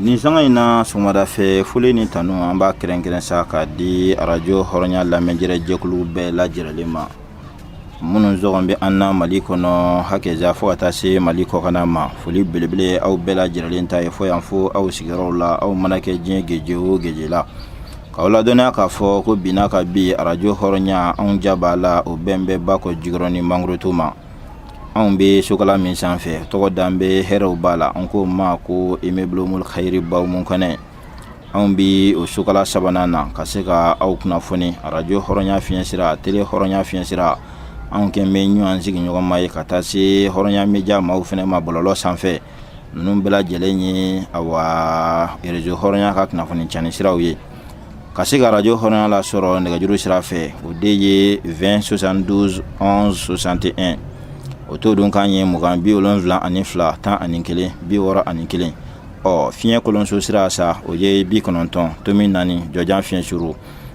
nin sanga in na sɔgɔmada fɛ foli ni tanu an b'a kɛrɛnkɛrɛn sa k'a di arajo hɔrɔnya lamɛnjɛrɛ jɛkulu bɛɛ lajɛrɛlen ma minnu sɔgɔlen bɛ an na mali kɔnɔ hakɛja fo ka taa se mali kɔkana ma foli belebele aw bɛɛ lajɛrɛlen ta ye fo yan fo aw sigiyɔrɔw la aw mana kɛ diɲɛ geje o geje la k'aw ladɔnniya k'a fɔ ko binna ka bi arajo hɔrɔnya anw ja b'a la o bɛnnen bɛ bakɔ jikɔrɔni mangorotu ma anw bɛ sokala min sanfɛ tɔgɔ dalen bɛ hɛrɛw b'a la an k'o ma ko immeuble kayiri baw mun kɔnɛ anw bɛ o sokala sabanan na ka se ka aw kunnafoni arajo hɔrɔnya fiɲɛ sira tele hɔrɔnya fiɲɛ sira anw kɛlen bɛ ɲɔgɔn sigiɲɔgɔnma ye ka taa se hɔrɔnya média maaw fana ma bɔlɔlɔ sanfɛ ninnu bɛɛ lajɛlen ye awa rezo hɔrɔnya ka kunnafoni cani siraw ye ka se ka arajo hɔrɔnya la sɔrɔ nɛgɛjuru sira fɛ o de ye 20 72 11 61 o to dun kan ye mugan bi wolonfila ani fila tan ani kelen bi wɔɔrɔ ani kelen ɔ fiɲɛ kolonso sira sa o ye bi kɔnɔntɔn tomi naani jɔjan fiɲɛ suru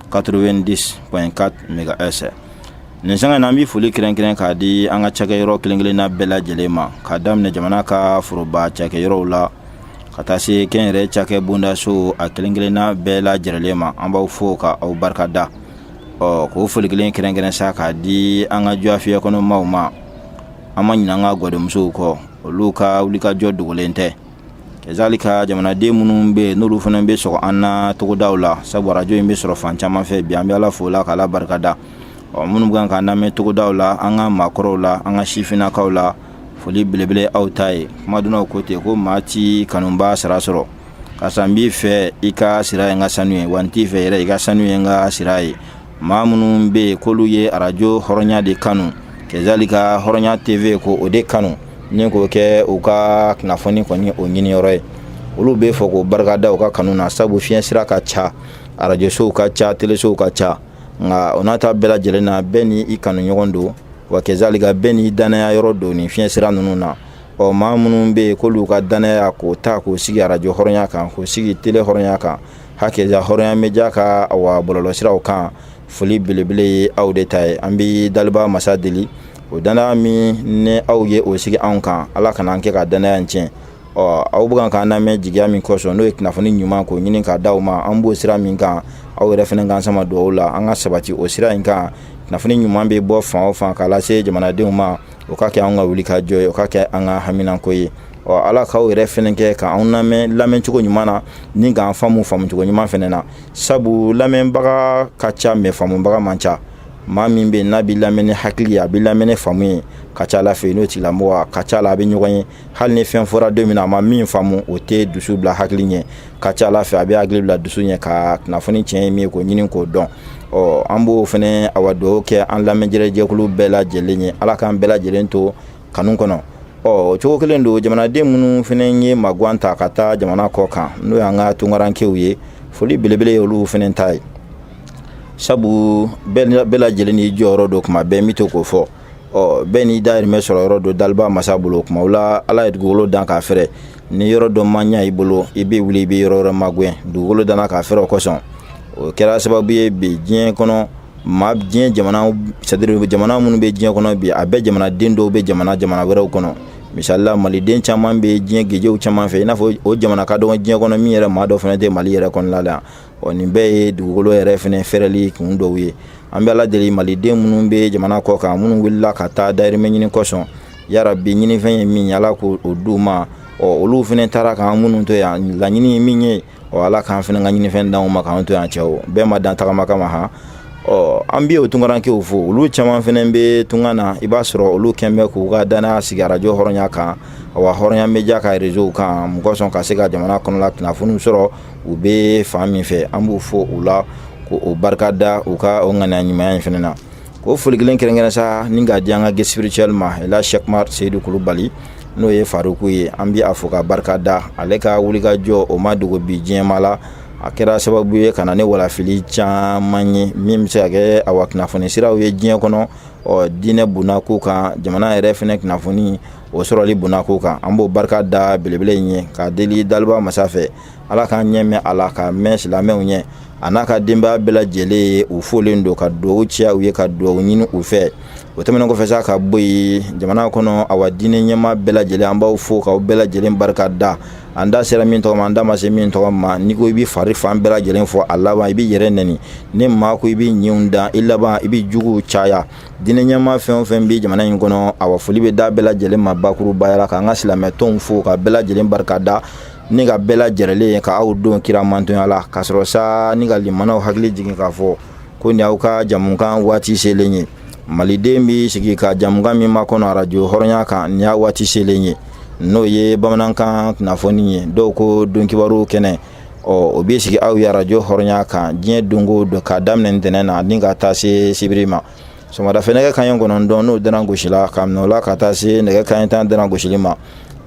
90.4 megahertz nin sanga na an bɛ foli kɛrɛnkɛrɛn k'a di an ka cakɛyɔrɔ kelen kelenna bɛɛ lajɛlen ma k'a daminɛ jamana ka foroba cakɛyɔrɔw la ka taa se kɛnyɛrɛye cakɛ bondasow kelen kelenna bɛɛ lajɛlen ma an b'aw fo ka aw barika da ɔ k'o foli kelen kɛrɛnkɛrɛn sa k'a di an ka jagofiyɛ kɔnɔmaaw ma an ma ɲinɛ an ka gadonmusow kɔ olu ka wulikajɔ dogolen tɛ ezali ka jamanaden minnu bɛ yen n'olu fana bɛ sɔgɔ an na togodaw la sabu arajo in bɛ sɔrɔ fan caman fɛ bi an bɛ ala fo la k'ala barikada ɔ minnu kan k'an lamɛn togodaw la an ka maakɔrɔw la an ka sifinnakaw la foli belebele aw ta ye kumadɔnnaw ko ten ko maa t'i kanubaa sara sɔrɔ karisa n b'i fɛ i ka sira ye n ka sanu ye wa n t'i fɛ yɛrɛ i ka sanu ye n ka sira ye maa minnu bɛ yen k'olu ye arajo hɔrɔnya de kanu kezali ka hɔrɔnya teve ko o de kanu ni k'o kɛ u ka kunnafoni kɔni o ɲiniyɔrɔ ye olu bɛ fo k'u barikada u ka kanu na sabu fiɲɛ sira ka ca arajosow ka ca telesow ka ca nka o n'a ta bɛɛ lajɛlen na bɛɛ ni i kanu ɲɔgɔn don wa kezali ka bɛɛ n'i dannaya yɔrɔ don ni fiɲɛ sira ninnu na ɔ maa minnu bɛ yen k'olu ka dannaya k'o ta k'o sigi arajo hɔrɔnya kan k'o sigi tele hɔrɔnya kan hakɛ ja hɔrɔnya média ka wa bɔlɔlɔsiraw kan foli belebele ye aw de ta ye an bɛ daliba masa deli o dannaya min n'aw ye o sigi anw kan ala kana an kɛ ka dannaya in tiɲɛ ɔ aw bɛ k'an lamɛn jigiya min kɔsɔn n'o ye kunnafoni ɲuman ko ɲini k'a di aw ma an b'o sira min kan aw yɛrɛ fana k'an sama dugaw la an ka sabati o sira in kan kunnafoni ɲuman bɛ bɔ fan o fan k'a lase jamanadenw ma o ka kɛ an ka wulikajɔ ye o ka kɛ an ka haminako ye ɔ ala k'aw yɛrɛ fɛnɛ kɛ k'anw lamɛn lamɛn cogo ɲuman na ni k'an faamu faamu cogo ɲuman fɛnɛ na sabu lamɛnbaga ka ca mɛ faamubaga man ca maa min bɛ n'a bɛ lamɛn ni hakili ye a bɛ lamɛn ni faamu ye ka ca a la fɛ n'o tigilamɔgɔ a ka ca la a bɛ ɲɔgɔn ye hali ni fɛn fɔra don min na a ma min faamu o tɛ dusu bila hakili ɲɛ ka ca a la fɛ a bɛ hakili bila dusu ɲɛ ka kunnafoni tiɲɛ ye min ye k'o ɲini k'o dɔn ɔ an b'o fɛnɛ awa dugawu kɛ an lamɛnnijɛkulu bɛɛ lajɛlen ye ala k'an bɛɛ lajɛlen to kanu kɔnɔ ɔ o cogo kelen don jamanaden minnu fana ye maguan ta ka taa jamana kɔkan n'o y'an ka tunkarankew ye foli belebele ye olu fana ta ye sabu bɛɛ lajɛlen n'i jɔyɔrɔ don tuma bɛɛ n bɛ to k'o fɔ ɔ bɛɛ n'i dayirimɛ sɔrɔ yɔrɔ don daliba masa bolo o kumaw la ala ye dugukolo dan k'a fɛrɛ ni yɔrɔ dɔ ma ɲa i bolo i bɛ wuli i bɛ yɔrɔ wɛrɛ magɛn dugukolo danna k'a fɛrɛ o kosɔn o kɛra sababu ye bi diɲɛ kɔnɔ maa diɲɛ jamana c'est-à-dire jamana minnu bɛ diɲɛ kɔnɔ bi a bɛɛ jamanaden dɔw bɛ jamana jamana wɛrɛw kɔnɔ misalila maliden caman bɛ diɲɛ gejew caman fɛ i n'a fɔ o jamana ka dɔgɔn diɲɛ kɔnɔ min yɛrɛ maa dɔ fana tɛ mali yɛrɛ kɔnɔna la ɔ nin bɛɛ ye dugukolo yɛrɛ fana fɛrɛli kun dɔw ye an bɛ ala deli maliden minnu bɛ jamana kɔkan minnu wulila ka taa dayirimɛ ɲini kosɔn yarabi ɲinifɛn ye min ye ala k'o d'u ma ɔ olu fana taara k'an minnu to yan laɲini ye min ye ɔ ala k'an fɛnɛ ka ɲinifɛn d'anw ma k'an to yan cɛw bɛɛ ma dan tagama kama han ɔ an bɛ o tunkarankew fo olu caman fɛnɛ bɛ tunga na i b'a sɔrɔ olu kɛlen bɛ k'u ka danaya sigi arajo hɔrɔnya kan awa hɔrɔnya média ka réseaux kan mun kosɔn ka se ka jamana kɔnɔla kunnafoniw sɔrɔ u bɛ fan min fɛ an b'u fo o la k'u barika da u ka o ŋaniya ɲumanya in fɛnɛ na ko foli kelen kɛrɛnkɛrɛn sa ni k'a di an ka guide spirituel ma ɛl sɛki umar seyidu kulubali n'o ye faruku ye an bi a fo k'a barika da ale ka wulikajɔ o ma dogo bi diɲɛmaa la a kɛra sababu ye ka na ni walafili caman ye min bɛ se ka kɛ awa kunnafoni siraw ye diɲɛ kɔnɔ ɔ diinɛ bonnako kan jamana yɛrɛ fɛnɛ kunnafoni o sɔrɔli bonnako kan an b'o barika da belebele in ye ka deli daliba masa fɛ Ala k'an ɲɛ mɛn a la k'a mɛn silamɛw ɲɛ a n'a ka denbaya bɛɛ lajɛlen ye u folen don ka dugawu kɛ u ye ka dugawu ɲini u fɛ o tɛmɛn kɔfɛ sa ka bɔ yen jamana kɔnɔ awa diinɛ ɲɛmaa bɛɛ lajɛlen an b'aw fo k'aw bɛɛ lajɛlen barika da an da sera min tɔgɔ ma an da ma se min tɔgɔ ma n'i ko i bɛ fari fan bɛɛ lajɛlen fɔ a laban i b'i yɛrɛ neni ni maa ko i b'i ɲinw dan i laban i b'i juguw caya diinɛ ɲɛmaa fɛn o fɛn bɛ jamana in kɔnɔ awa foli bɛ d'a bɛɛ lajɛlen ma bakurubaya la k'an ka silamɛtɔnw fo k'a bɛɛ lajɛlen barika da ni k'a bɛɛ lajɛrɛlen ye ka aw don kira mantonya la ka sɔrɔ sa ni ka lamɛnnaw hakili jigin k'a fɔ ko nin aw ka jamukan waati selen ye maliden bɛ sigi ka jamukan min makɔnɔ arajo hɔrɔnya kan nin y'a waati selen ye n'o ye bamanankan kunnafoni ye dɔw ko donkibaru kɛnɛ ɔ o bɛ sigi aw ye arajo hɔrɔnya kan diɲɛ don go don k'a daminɛ ntɛnɛn na ni ka taa se sibiri ma sɔgɔmada fɛ nɛgɛ kaɲɛ kɔnɔntɔn n'o dana gosila ka minɛ o la ka taa se nɛgɛ kaɲɛ tan dana gosili ma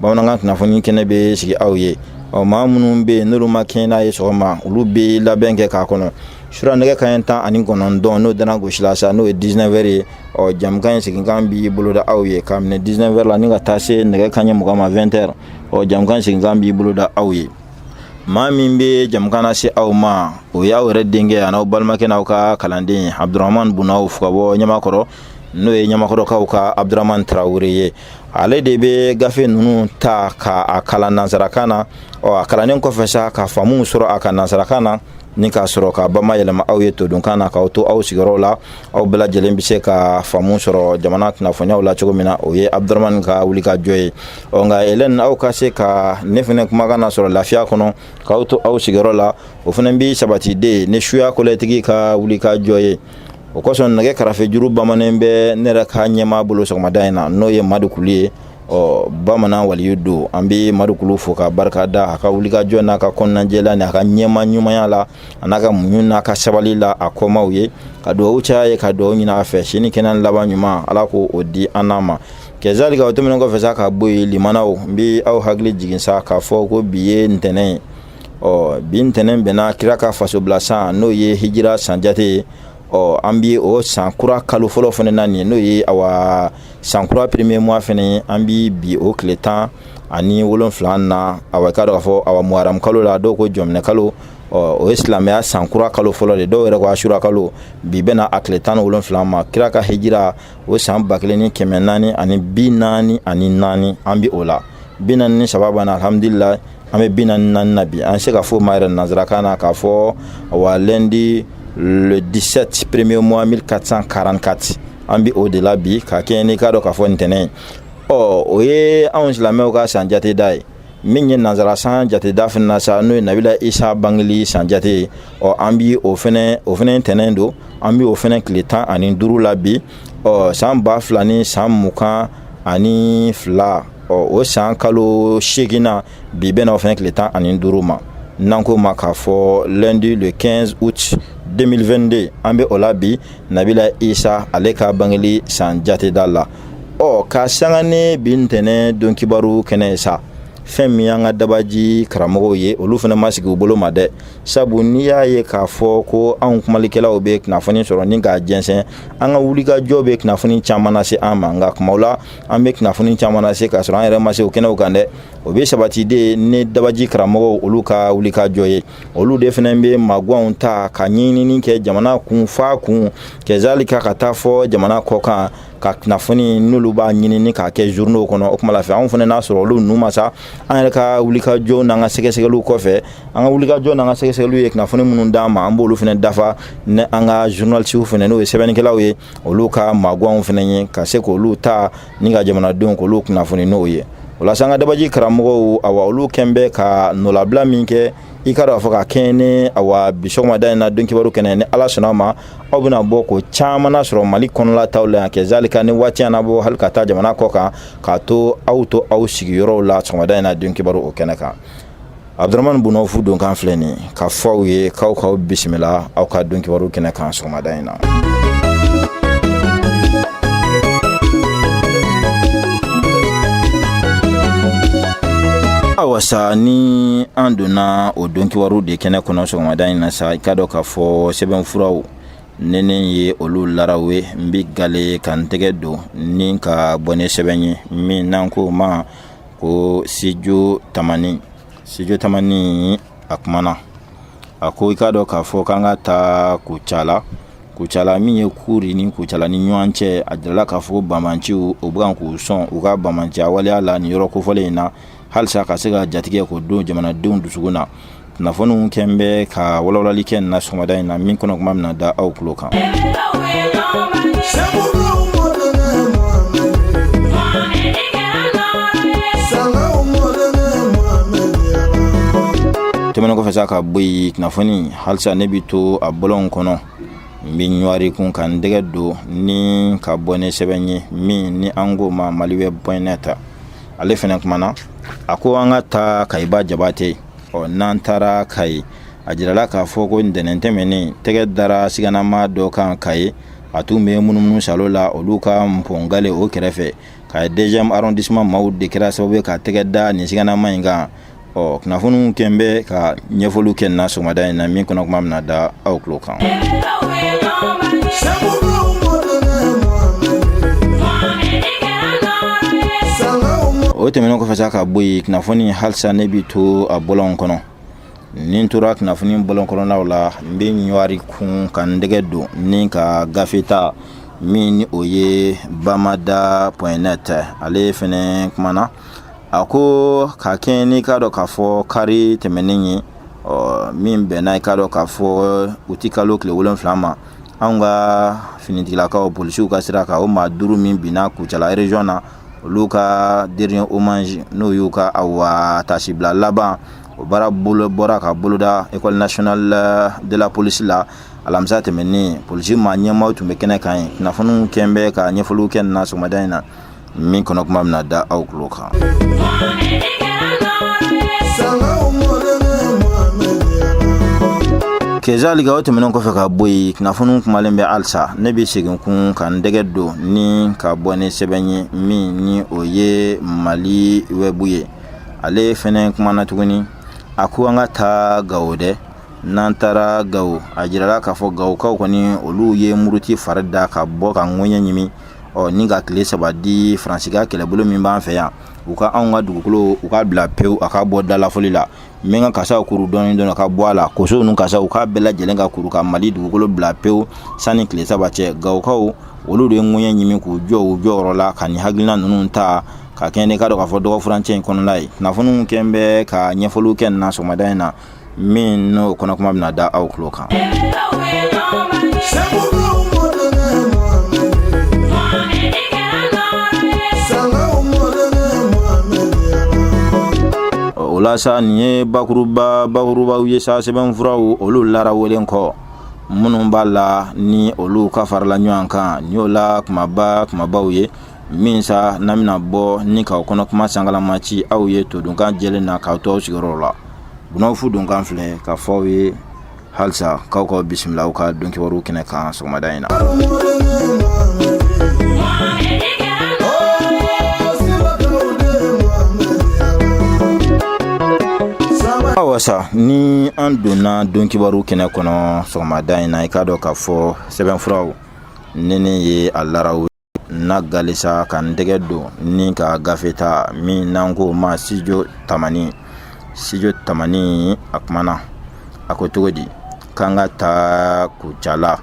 bamanankan kunnafoni kɛnɛ bɛ sigi aw ye ɔ maa minnu bɛ yen n'olu ma kɛɲɛ n'a ye sɔgɔma olu bɛ labɛn kɛ k'a kɔnɔ sura nɛgɛ kaɲɛ tan ani kɔnɔntɔn n'o dana gosila sa n'o ye 19 heures ye ɔ jamukan in seginkan bi boloda aw ye ka minɛ 19 heures la ni ka taa se nɛgɛ kaɲɛ mugan ma 20 ɔ jamukan seginkan bi boloda aw ye maa min bɛ jamukan lase aw ma o y'aw yɛrɛ denkɛ an'aw balimakɛ n'aw ka kalanden ye abudurahman bun awfu ka bɔ ɲamakɔrɔ n'o ye ɲamakɔrɔkaw ka abudurahman tarawele ye ale de bɛ gafe ninnu ta ka a kalan nansarakan na ɔ a kalannen kɔfɛ sa ka faamu sɔrɔ a ka nansarakan na ni ka sɔrɔ k'a bama yɛlɛma aw ye todunkan na k'aw to aw sigiyɔrɔw la aw bɛɛ lajɛlen bɛ se ka faamu sɔrɔ jamana kunnafoniyaw la cogo min na o ye abudurahman ka wulikajɔ ye ɔ nka elɛni aw ka se ka ne fɛnɛ kumakan na sɔrɔ lafiya kɔnɔ k'aw to aw sigiyɔrɔ la o fɛnɛ bi sabati de ni suya kɔlɛtigi ka wulikajɔ ye o kosɔn nɛgɛ karafe juru bamanen bɛ ne yɛrɛ ka ɲɛmaa bolo sɔgɔmada in na n'o ye madu kulu ye ɔ bamanan waliyu don an bɛ madu kulu fo ka barika da a ka wulikajɔ n'a ka kɔnɔnajɛya ni a ka ɲɛmaa ɲumanya la an'a ka muɲu n'a ka sabali la a kɔmaaw ye ka duwawu caya a ye ka duwawu ɲini a fɛ si ni kɛnɛ laban ɲuman ala k'o di an n'a ma kazalika o tɛmɛnen kɔfɛ sa ka bɔ yen limanaw n bɛ aw hakili jigin sa k'a fɔ ko bi ye ntɛnɛn ye ɔ bi ntɛnɛn bɛnna kira ka fasobila san n'o ye hijira san jate ye ɔ an bi o san kura kalo fɔlɔ fana na nin n'o ye awa san kura premier mois fana an bi bi o tile tan ani wolonfila na awa i k'a dɔn k'a fɔ awa muharam kalo la dɔw ko jɔminɛ kalo ɔ o ye silamɛya san kura kalo fɔlɔ de dɔw yɛrɛ ko asura kalo bi bɛna a tile tan ni wolonfila ma kira ka hijira o san ba kelen ni kɛmɛ naani ani bi naani ani naani an bɛ o la bi naani ni saba banna alhamdulila an bɛ bi naani naani na bi an se k'a fɔ a ma yɛrɛ nanzarakan na k'a fɔ wa lundi le 17 premier mois 1444 an bɛ o de la bi ka kɛɲɛ n'i k'a dɔn k'a fɔ ntɛnɛn ɔ o ye anw silamɛw ka san jateda ye min ye nanzara san jateda fana na sa n'o ye nabila isa bangeli san jate ye ɔ an bi o fɛnɛ o fɛnɛ ntɛnɛn don an bi o fɛnɛ tile tan ani duuru la bi ɔ san ba fila ni san mugan ani fila ɔ o san kalo seeginna bi bɛna o fɛnɛ tile tan ani duuru ma n'an ko a ma k'a fɔ lundi le 15 août 2022 an bɛ o la bi nabila isa ale ka bangeli san jateda la ɔ ka sanga ni bi ntɛnɛn don kibaru kɛnɛ sa fɛn min y'an ka dabaji karamɔgɔw ye olu fɛnɛ ma sigi u bolo ma dɛ sabu n'i y'a ye k'a fɔ ko anw kumalikɛlaw bɛ kunnafoni sɔrɔ ni k'a jɛnsɛn an ka wulikajɔ bɛ kunnafoni caman na se an ma nka kumaw la an bɛ kunnafoni caman na se k'a sɔrɔ an yɛrɛ ma se o kɛnɛw kan dɛ o bɛ sabati de ni dabaji karamɔgɔw olu ka wulikajɔ ye olu de fana bɛ maguwanw ta ka ɲɛɲinini kɛ jamana kun fa kun kɛzalika ka taa fɔ jamana kɔkan ka kunnafoni n'olu b'a ɲinini k'a kɛ journaux kɔnɔ o kuma la fɛ anw fana n'a sɔrɔ olu ninnu ma sa an yɛrɛ ka wulikajɔ n'an ka sɛgɛsɛgɛliw kɔfɛ an ka wulikajɔ n'an ka sɛgɛsɛgɛliw ye kunnafoni minnu d'an ma an b'olu fana dafa ni an ka journalisiw fana n'o ye sɛbɛnnikɛlaw ye olu ka maaguwanw fana ye ka se k'olu ta ni ka jamanadenw k'olu kunnafoni n'o ye o la sa an ka dabaji karamɔgɔw awa olu kɛn bɛ ka nɔlabila min kɛ i k'a dɔn k'a fɔ ka kɛɲɛ ni awa bi sɔgɔmada in na don kibaru kɛnɛ ni ala sɔnna a ma aw bɛna bɔ ko caman sɔrɔ mali kɔnɔla taw la yan kɛzalika ni waati y'an bɔ hali ka taa jamana kɔkan k'a to aw to aw sigiyɔrɔw la sɔgɔmada in na don kibaru o kɛnɛ kan aduuramani bna fu don kan filɛ nin k'a fɔ aw ye k'aw ka aw bisimila aw ka don kibaru kɛnɛ kan sɔgɔmada in na awa sa ni an donna o don kibaru de kɛnɛ kɔnɔ sɔgɔmada in na sa i k'a dɔn k'a fɔ fɔ sɛbɛn furaw n ye olu laraw ye n bɛ ga ka n tɛgɛ don ni ka bɔ ni sɛbɛn ye min n'an ko o ma ko studio tamani studio tamani a kumana a ko i k'a dɔn k'a fɔ k'an ka taa kucala kucala min ye kuri ni kucala ni ɲɔgɔn cɛ a jirala k'a fɔ banbaanciw u bɛ k'u sɔn u ka banbaanciya waleya la nin yɔrɔ kofɔlen in na halisa ka se ka jatigɛ ko don jamanadenw dusukun na kunnafoniw kɛn bɛ ka walawalali kɛ na sɔgɔmada in na min kɔnɔ kuma bɛna da aw tulo kan tɛmɛnen kɔfɛ sa ka bɔ yen kunnafoni halisa ne bi to a bɔlɔnw kɔnɔ n bɛ ɲɔari kun ka n tɛgɛ don ni ka bɔ ni sɛbɛn ye min ni an k'o ma maliweb point net ale fana kumana a ko an ka taa kayiba jabate ɔ n'an taara kayi a jirala k'a fɔ ko ntɛnɛn tɛmɛnen tɛgɛ dara siganamaa dɔ kan kayi a tun bɛ munumunu salo la olu ka npɔngale o kɛrɛfɛ kayi deuxième arrondissement maaw de kɛra sababu ye ka tɛgɛ da nin siganamaa in kan ɔ kunnafoniw kɛn bɛ ka ɲɛfɔliw kɛ na sɔgɔmada in na min kɔnɔ kuma bɛna da aw tulo kan o tɛmɛnen kɔfɛ sa ka bɔ yen kunnafoni halisa ne bi to a bɔlɔn kɔnɔ ni n tora kunnafoni bɔlɔn kɔnɔnaw la n bɛ ɲɔwari kun ka n tɛgɛ don ni ka gafe ta min ni o ye bamada point net ale fɛnɛ kumana a ko ka kɛɲɛ n'i k'a dɔn k'a fɔ kari tɛmɛnen ye ɔ min bɛnna i k'a dɔn k'a fɔ uti kalo tile wolonwula ma anw ka finitigilakaw polisiw ka sira kan o maa duuru min binna kucala erezɔn na olu ka dɛrɛniye omazi n'o y'u ka awa taasibila laban o baara bolo bɔra ka boloda ekɔli nasional de la polisi la alamisa tɛmɛnen polisi maa ɲɛmaaw tun bɛ kɛnɛ kan ye kunnafoniw kɛ n bɛ ka ɲɛfɔliw kɛ na sɔgɔmada in na min kɔnɔ kuma bɛna da aw tulo kan kezalika o tɛmɛnen kɔfɛ ka bɔ yen kunnafoniw kumalen bɛ halisa ne bɛ segin tun ka n tɛgɛ don ni ka bɔ ni sɛbɛn ye min ni o ye mali wɛbu ye ale fɛnɛ kumana tuguni a ko an ka taa gawo dɛ n'an taara gawo a jirala k'a fɔ gawokaw kɔni olu ye muruti fari da ka bɔ ka ŋɔɲɛ ɲimi ɔ ni ka tile saba di faransi ka kɛlɛbolo min b'an fɛ yan u ka anw ka dugukolo u ka bila pewu a ka bɔ dalafɔli la n bɛ n ka kasaw kuru dɔɔni dɔɔni ka bɔ a la koso ninnu kasa u k'a bɛɛ lajɛlen ka kuru ka mali dugukolo bila pewu sanni tile saba cɛ gawokaw olu de ye ŋɔɲɛ ɲimi k'u jɔ u jɔyɔrɔ la ka nin hakilina ninnu ta ka kɛɲɛ n'i k'a dɔn k'a fɔ dɔgɔfurancɛ in kɔnɔna ye kunnafoniw kɛ n bɛ ka ɲɛfɔliw kɛ nin na sɔgɔmada in na min n'o kɔnɔ kuma bɛna da aw tulo kan o la sa nin ye bakuruba bakurubaw ye sa sɛbɛnfuraw olu larawelen kɔ minnu b'a la ni olu ka farala ɲɔgɔn kan nin y'o la kumaba kumabaw ye min sa n'an bɛna bɔ ni k'o kɔnɔ kuma sankalama ci aw ye todunkan jɛlen na k'aw to aw sigiyɔrɔ la bunɔgɔ fu donkan filɛ k'a fɔ aw ye halisa k'aw ka bisimila aw ka don kibaruw kɛnɛ kan sɔgɔmada in na awa sa ni an donna don kibaru kɛnɛ kɔnɔ sɔgɔmada in na i k'a dɔn k'a fɔ sɛbɛnfuraw ni ne ye a larawe na halisa ka n tɛgɛ don ni ka gafe ta min n'an k'o ma sitidiyo tamani sitidiyo tamani a kumana a ko cogo di k'an ka taa kucala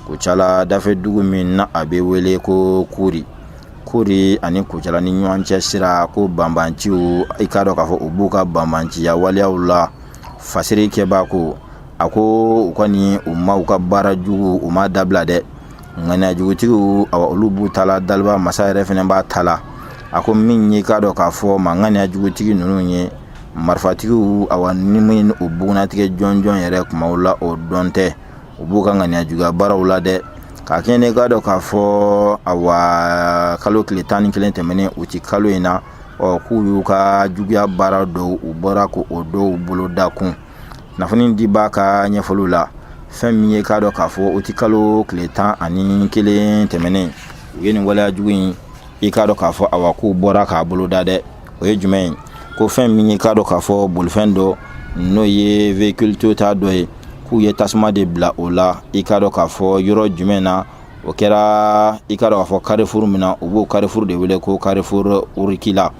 kucala dafɛ dugu min n'a bɛ wele ko kuri kuri ani kucala ni ɲɔgɔn cɛ sira ko banbanciw i k'a dɔn k'a fɔ u b'u ka banbanciya waleyaw la fasiri kɛbaa ko a ko u kɔni u ma u ka baara jugu u ma dabila dɛ ŋaniya jugutigiw awa olu b'u ta la daliba masa yɛrɛ fɛnɛ b'a ta la a ko min y'i k'a dɔn k'a fɔ maa ŋaniya jugutigi nunu ye marifatigiw awa ni min u bugunatigɛ jɔnjɔn yɛrɛ kumaw la o dɔn tɛ u b'u ka ŋaniya juguya baaraw la dɛ ka kɛɲɛ n'i k'a dɔn k'a fɔ awa kalo tile tan ni kelen tɛmɛnen uti kalo in na ɔ k'u y'u ka juguya baara dɔw u bɔra k'o dɔw boloda kun kunnafoni dibaa ka ɲɛfɔliw la fɛn min y'i k'a dɔn k'a fɔ uti kalo tile tan ani kelen tɛmɛnen u ye nin waleya jugu in i k'a dɔn k'a fɔ awa k'u bɔra k'a boloda dɛ o ye jumɛn ye ko fɛn min y'i k'a dɔn k'a fɔ bolifɛn dɔ n'o ye véhicule toyota dɔ ye k'u ye tasuma de bila o la i k'a dɔn k'a fɔ yɔrɔ jumɛn na o kɛra i k'a dɔn k'a fɔ karifuru min na u b'o karifuru de wele ko karifuru urikila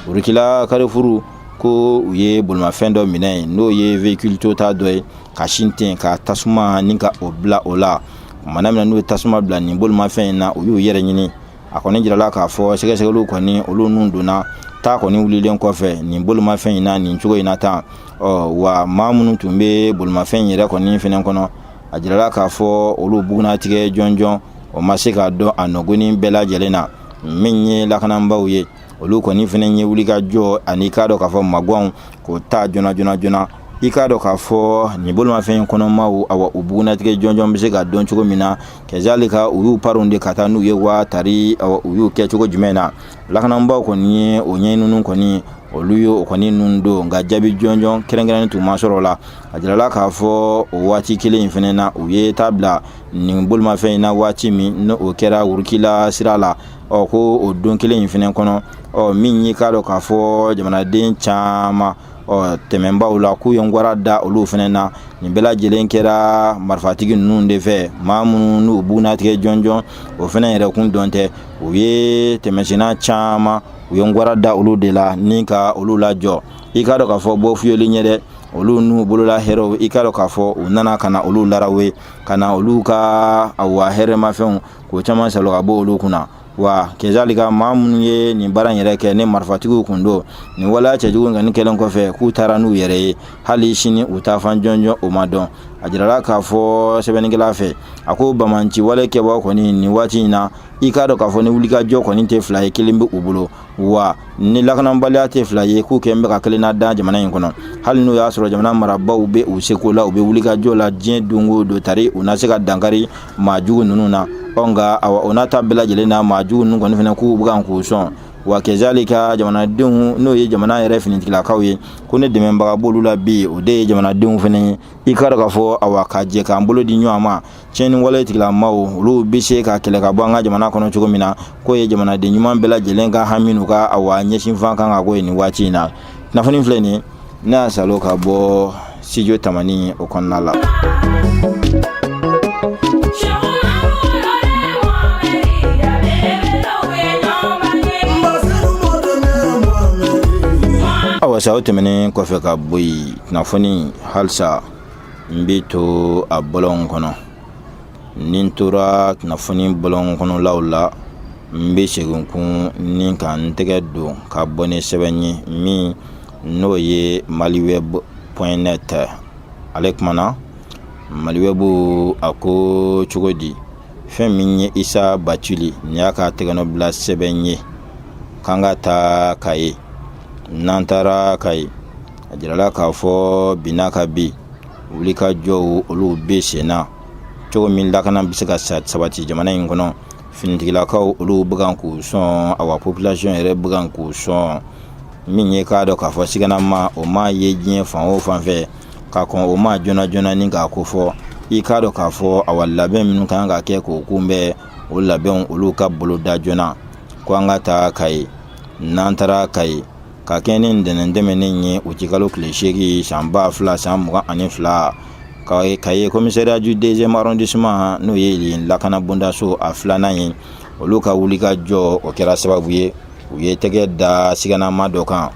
urikila karifuru ko u ye bolimafɛn dɔ minɛ yen n'o ye véhicule toyota dɔ ye ka sin ten ka tasuma ni k'o bila o la mana min na n'u ye tasuma bila nin bolimafɛn in na u y'u yɛrɛ ɲini a kɔni jirala k'a fɔ sɛgɛsɛgɛliw kɔni olu ninnu donna ta kɔni wulilen kɔfɛ nin bolimafɛn in na nin cogo in na tan ɔ wa maa minnu tun bɛ bolimafɛn in yɛrɛ kɔni fɛnɛ kɔnɔ a jirala k'a fɔ olu bugunnatigɛ jɔnjɔn o ma se ka dɔn a nin ko nin bɛɛ lajɛlen na min ye lakananbaaw ye olu kɔni fana ye wulikajɔ an'i k'a dɔn k'a fɔ maganw k'o ta joona joona joona i k'a dɔn k'a fɔ nin bolimafɛn in kɔnɔmaw awa u bugunatigɛ jɔnjɔn bɛ se ka dɔn cogo min na kɛzali ka u y'u poron de ka taa n'u ye wa tari awa u y'u kɛ cogo jumɛn na lakananbaw kɔni ye o ɲɛɲininiw kɔni olu ye o kɔni ninnu don nka jaabi jɔnjɔn kɛrɛnkɛrɛnnen tun ma sɔrɔ o la a jirala k'a fɔ o waati kelen in fana na u ye ta bila nin bolimafɛn in na waati min n'o kɛra urikila sira la ɔ ko o don kelen in fana kɔnɔ ɔ min y'i k'a dɔn k'a fɔ jamanaden caman ɔ tɛmɛnbaaw la k'u ye garan da olu fana na nin bɛɛ lajɛlen kɛra marifatigi ninnu de fɛ maa minnu n'u bugunatigɛ jɔnjɔn o fana yɛrɛ kun dɔn tɛ u ye tɛmɛsenna caman u ye garan da olu de la ni ka olu lajɔ i k'a dɔn k'a fɔ bɔ fiyeli ɲɛ dɛ olu n'u bolola hɛrɛw i k'a dɔn k'a fɔ u nana ka na olu larawe ka na olu ka awa hɛrɛmafɛnw k'o caman sɔrɔ ka bɔ olu kunna wa kezalili ka maa minnu ye nin baara yɛrɛ kɛ ni marifatigiw kun don nin waleya cɛjugu kɔni kɛlen kɔfɛ k'u taara n'u yɛrɛ ye hali sini u taafan jɔnjɔn o ma dɔn a jirala k'a fɔ sɛbɛnnikɛla fɛ a ko banbaanci walekɛbaa kɔni nin waati in na i k'a dɔn k'a fɔ ni wulikajɔ kɔni tɛ fila ye kelen bɛ u bolo wa ni lakanabaliya tɛ fila ye k'u kɔni bɛ ka kelen lada jamana in kɔnɔ hali n'o y'a sɔrɔ jamana marabaaw bɛ u seko la u bɛ wulikajɔ la diɲɛ don o don tari u na se ka dankari maa jugu ninnu na ɔ nka awa o n'a ta bɛɛ lajɛlen na maa jugu ninnu kɔni fana k'u bɛ kan k'u sɔn wa kɛzali ka jamanadenw n'o ye jamana yɛrɛ finitigilakaw ye ko ni dɛmɛbaga b'olu la bi o de ye jamanadenw fana ye i k'a dɔn k'a fɔ awa ka jɛ k'an bolo di ɲɔgɔn ma tiɲɛni wale tigilamaw olu bɛ se ka kɛlɛ ka bɔ an ka jamana kɔnɔ cogo min na k'o ye jamanaden ɲuman bɛɛ lajɛlen ka hami n'u ka awa ɲɛsinfan kan ka k'o ye nin waati in na kunnafoni filɛ nin ne y'a salo ka bɔ studio tamani o kɔnɔna la awa sa o tɛmɛnen kɔfɛ ka bɔ yen kunnafoni halisa n bɛ to a bɔlɔn kɔnɔ ni n tora kunnafoni bɔlɔn kɔnɔlaw la n bɛ segin tuguni ka n tɛgɛ don ka bɔ ni sɛbɛn ye min n'o ye maliweb point net ale kumana maliwɛbu a ko cogo di fɛn min ye isa bacili nin y'a ka tɛgɛnɔbila sɛbɛn ye k'an ka taa kayi n'an taara kayi a jirala k'a fɔ binna ka bi wulikajɔw olu bɛ sen na cogo min lakana bɛ se ka sabati jamana in kɔnɔ finitigilakaw olu bɛ kan k'u sɔn awa population yɛrɛ bɛ kan k'u sɔn min ye k'a dɔn k'a fɔ siganama o ma ye diɲɛ fan o fan fɛ ka kɔn o ma joona joona ni k'a kofɔ i k'a dɔn k'a fɔ awa labɛn minnu kan ka kɛ k'o kunbɛn o labɛnw olu ka boloda joona ko an ka taa kayi n'an taara kayi ka kɛɲɛ ni ntɛnɛn tɛmɛnen ye uti kalo tile seegin san ba fila san mugan ani fila kayi komisariya du deuxième arrondissement n'o ye yen lakana bondaso a filanan ye olu ka wulikajɔ o kɛra sababu ye u ye tɛgɛ da siganama dɔ kan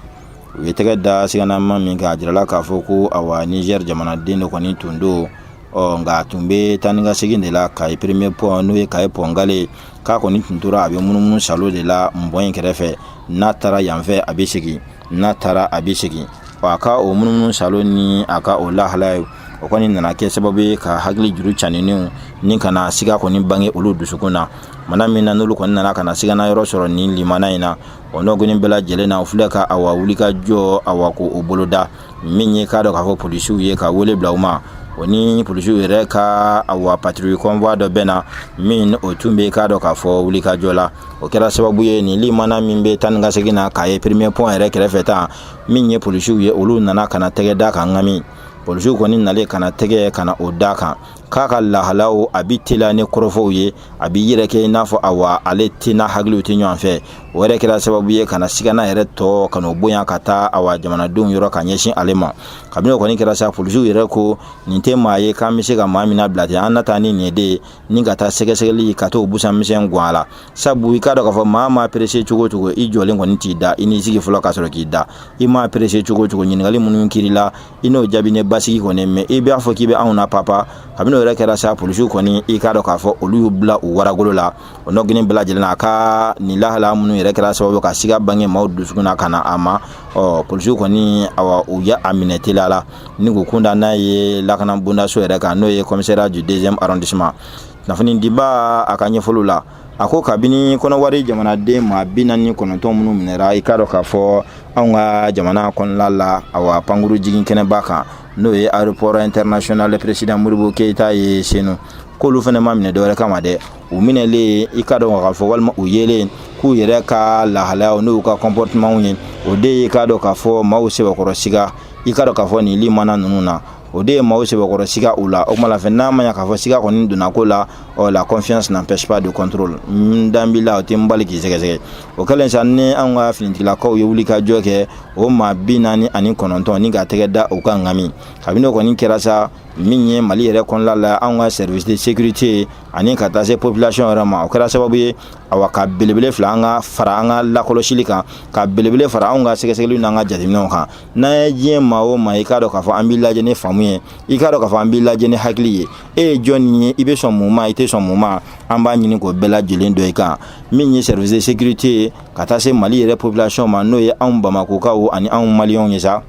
u ye tɛgɛ da siganama min kan a jirala k'a fɔ ko awa nizɛri jamanaden dɔ kɔni tun don ɔ nka a tun bɛ taa ni ka segin de la kayi premier pɔn n'o ye kayi pɔn gale ye k'a kɔni tun tora a bɛ munumunu salo de la pɔn in kɛrɛfɛ n'a taara yan fɛ a bɛ segin n'a taara a bɛ segin wa a ka o munumunu salo ni a ka o lahala ye o kɔni nana kɛ sababu ye ka hakili juru caninenw ni ka na siga kɔni bange olu dusukun na mana min na n'olu kɔni nana ka na siga yɔrɔ sɔrɔ nin limana in na o nɔgɔnin bɛɛ lajɛlen na u filɛ ka awa wulikajɔ awa k'o boloda min ye k'a dɔn k'a fɔ polisiw ye ka wele bila u ma o ni polisiw yɛrɛ ka awa patrouille convoi dɔ bɛn na min o tun bɛ k'a dɔn k'a fɔ wulikajɔ la o kɛra sababu ye nin limana min bɛ taa ni ka segin na kayi premier pont yɛrɛ kɛrɛfɛ tan min ye polisiw ye olu nana ka na tɛgɛ da kan ŋami polisiw kɔni nalen ka na tɛgɛ ka na o da kan k'a ka lahalaw a bi teliya ni kɔrɔfɔw ye a b'i yɛrɛ kɛ i n'a fɔ awa ale tɛ n'a hakiliw tɛ ɲɔgɔn fɛ o yɛrɛ kɛra sababu ye ka na sigana yɛrɛ tɔ ka n'o bonya ka taa awa jamanadenw yɔrɔ ka ɲɛsin ale ma kabini o kɔni kɛra sa polisiw yɛrɛ ko nin tɛ maa ye k'an bɛ se ka maa min bila ten an na taa ni nin de ye ni ka taa sɛgɛsɛgɛli ka t'o busan misɛn gɔn a la sabu i k'a dɔn k'a fɔ maa maa perese cogo o cogo i jɔlen kɔni t'i da i n'i sigi fɔlɔ ka sɔrɔ k'i da i maa perese cogo o cogo ɲininkali minnu kɛr'i la i n'o jaabi ne basigi kɔni mɛ i b'a fɔ k'i bɛ anw na papa kabini o yɛrɛ kɛra sa polisiw kɔni i k'a dɔn k'a fɔ olu y'u bila u waragolo la o nɔgɔnin bɛɛ lajɛlen a ka nin lahala minnu yɛrɛ kɛra sababu ka siga bange maaw dusukun na ka na a ma ɔ polisiw kɔni awa u ye a minɛ teliya la ni k'u kun da n'a ye lakana bondaso yɛrɛ kan n'o ye commissariat du deuxième arrondissement kunnafonidibaa ka ɲɛfɔliw la a ko kabini kɔnɔwari jamanaden maa bi naani kɔnɔntɔn minnu minɛra i k'a dɔn k'a fɔ anw ka jamana kɔnɔla la awa pankurun jigin kɛnɛba kan n'o ye aéroport international président modibo keyita ye senu k'olu fana ma minɛ dɔwɛrɛ kama dɛ u minɛlen i k'a dɔn k'a fɔ walima u yelen k'u yɛrɛ ka lahalayaw n'u ka comportementw ye o de ye i k'a dɔn k'a fɔ maaw sɛbɛkɔrɔ siga i k'a dɔn k'a fɔ nin limana ninnu na o de ye maaw sɛbɛkɔrɔ siga u la o kuma la fɛ n'a ma ɲa k'a fɔ siga kɔni donna ko la ɔ la confiance n'empêche pas de contrôle n dalen b'i la o tɛ n bali k'i sɛgɛsɛgɛ o kɛlen sa ni an ka finitigilakaw ye wuli ka jɔ kɛ o maa bi naani ani kɔnɔntɔn ni ka tɛgɛ da u kan ŋami kabini o kɔni kɛra sa min ye mali yɛrɛ kɔnɔla la an ka service de sécurité ani ka taa se population yɛrɛ ma o kɛra sababu ye awa ka belebele fara an ka fara an ka lakɔlɔsili kan ka belebele fara anw ka sɛgɛsɛgɛliw n'an ka jateminɛw kan n'an ye diɲɛ maa o maa i k'a dɔn k'a fɔ an b'i lajɛ ni faamu ye i k'a dɔn k'a fɔ an b'i lajɛ ni hakili ye e ye jɔnni ye i bɛ sɔn mun ma i tɛ sɔn mun ma an b'a ɲini k'o bɛɛ lajɛlen dɔn i kan min ye service de sécurité ye ka taa se mali yɛrɛ population ma n'o ye anw bamakokaw ani anw maliyɛnw ye sa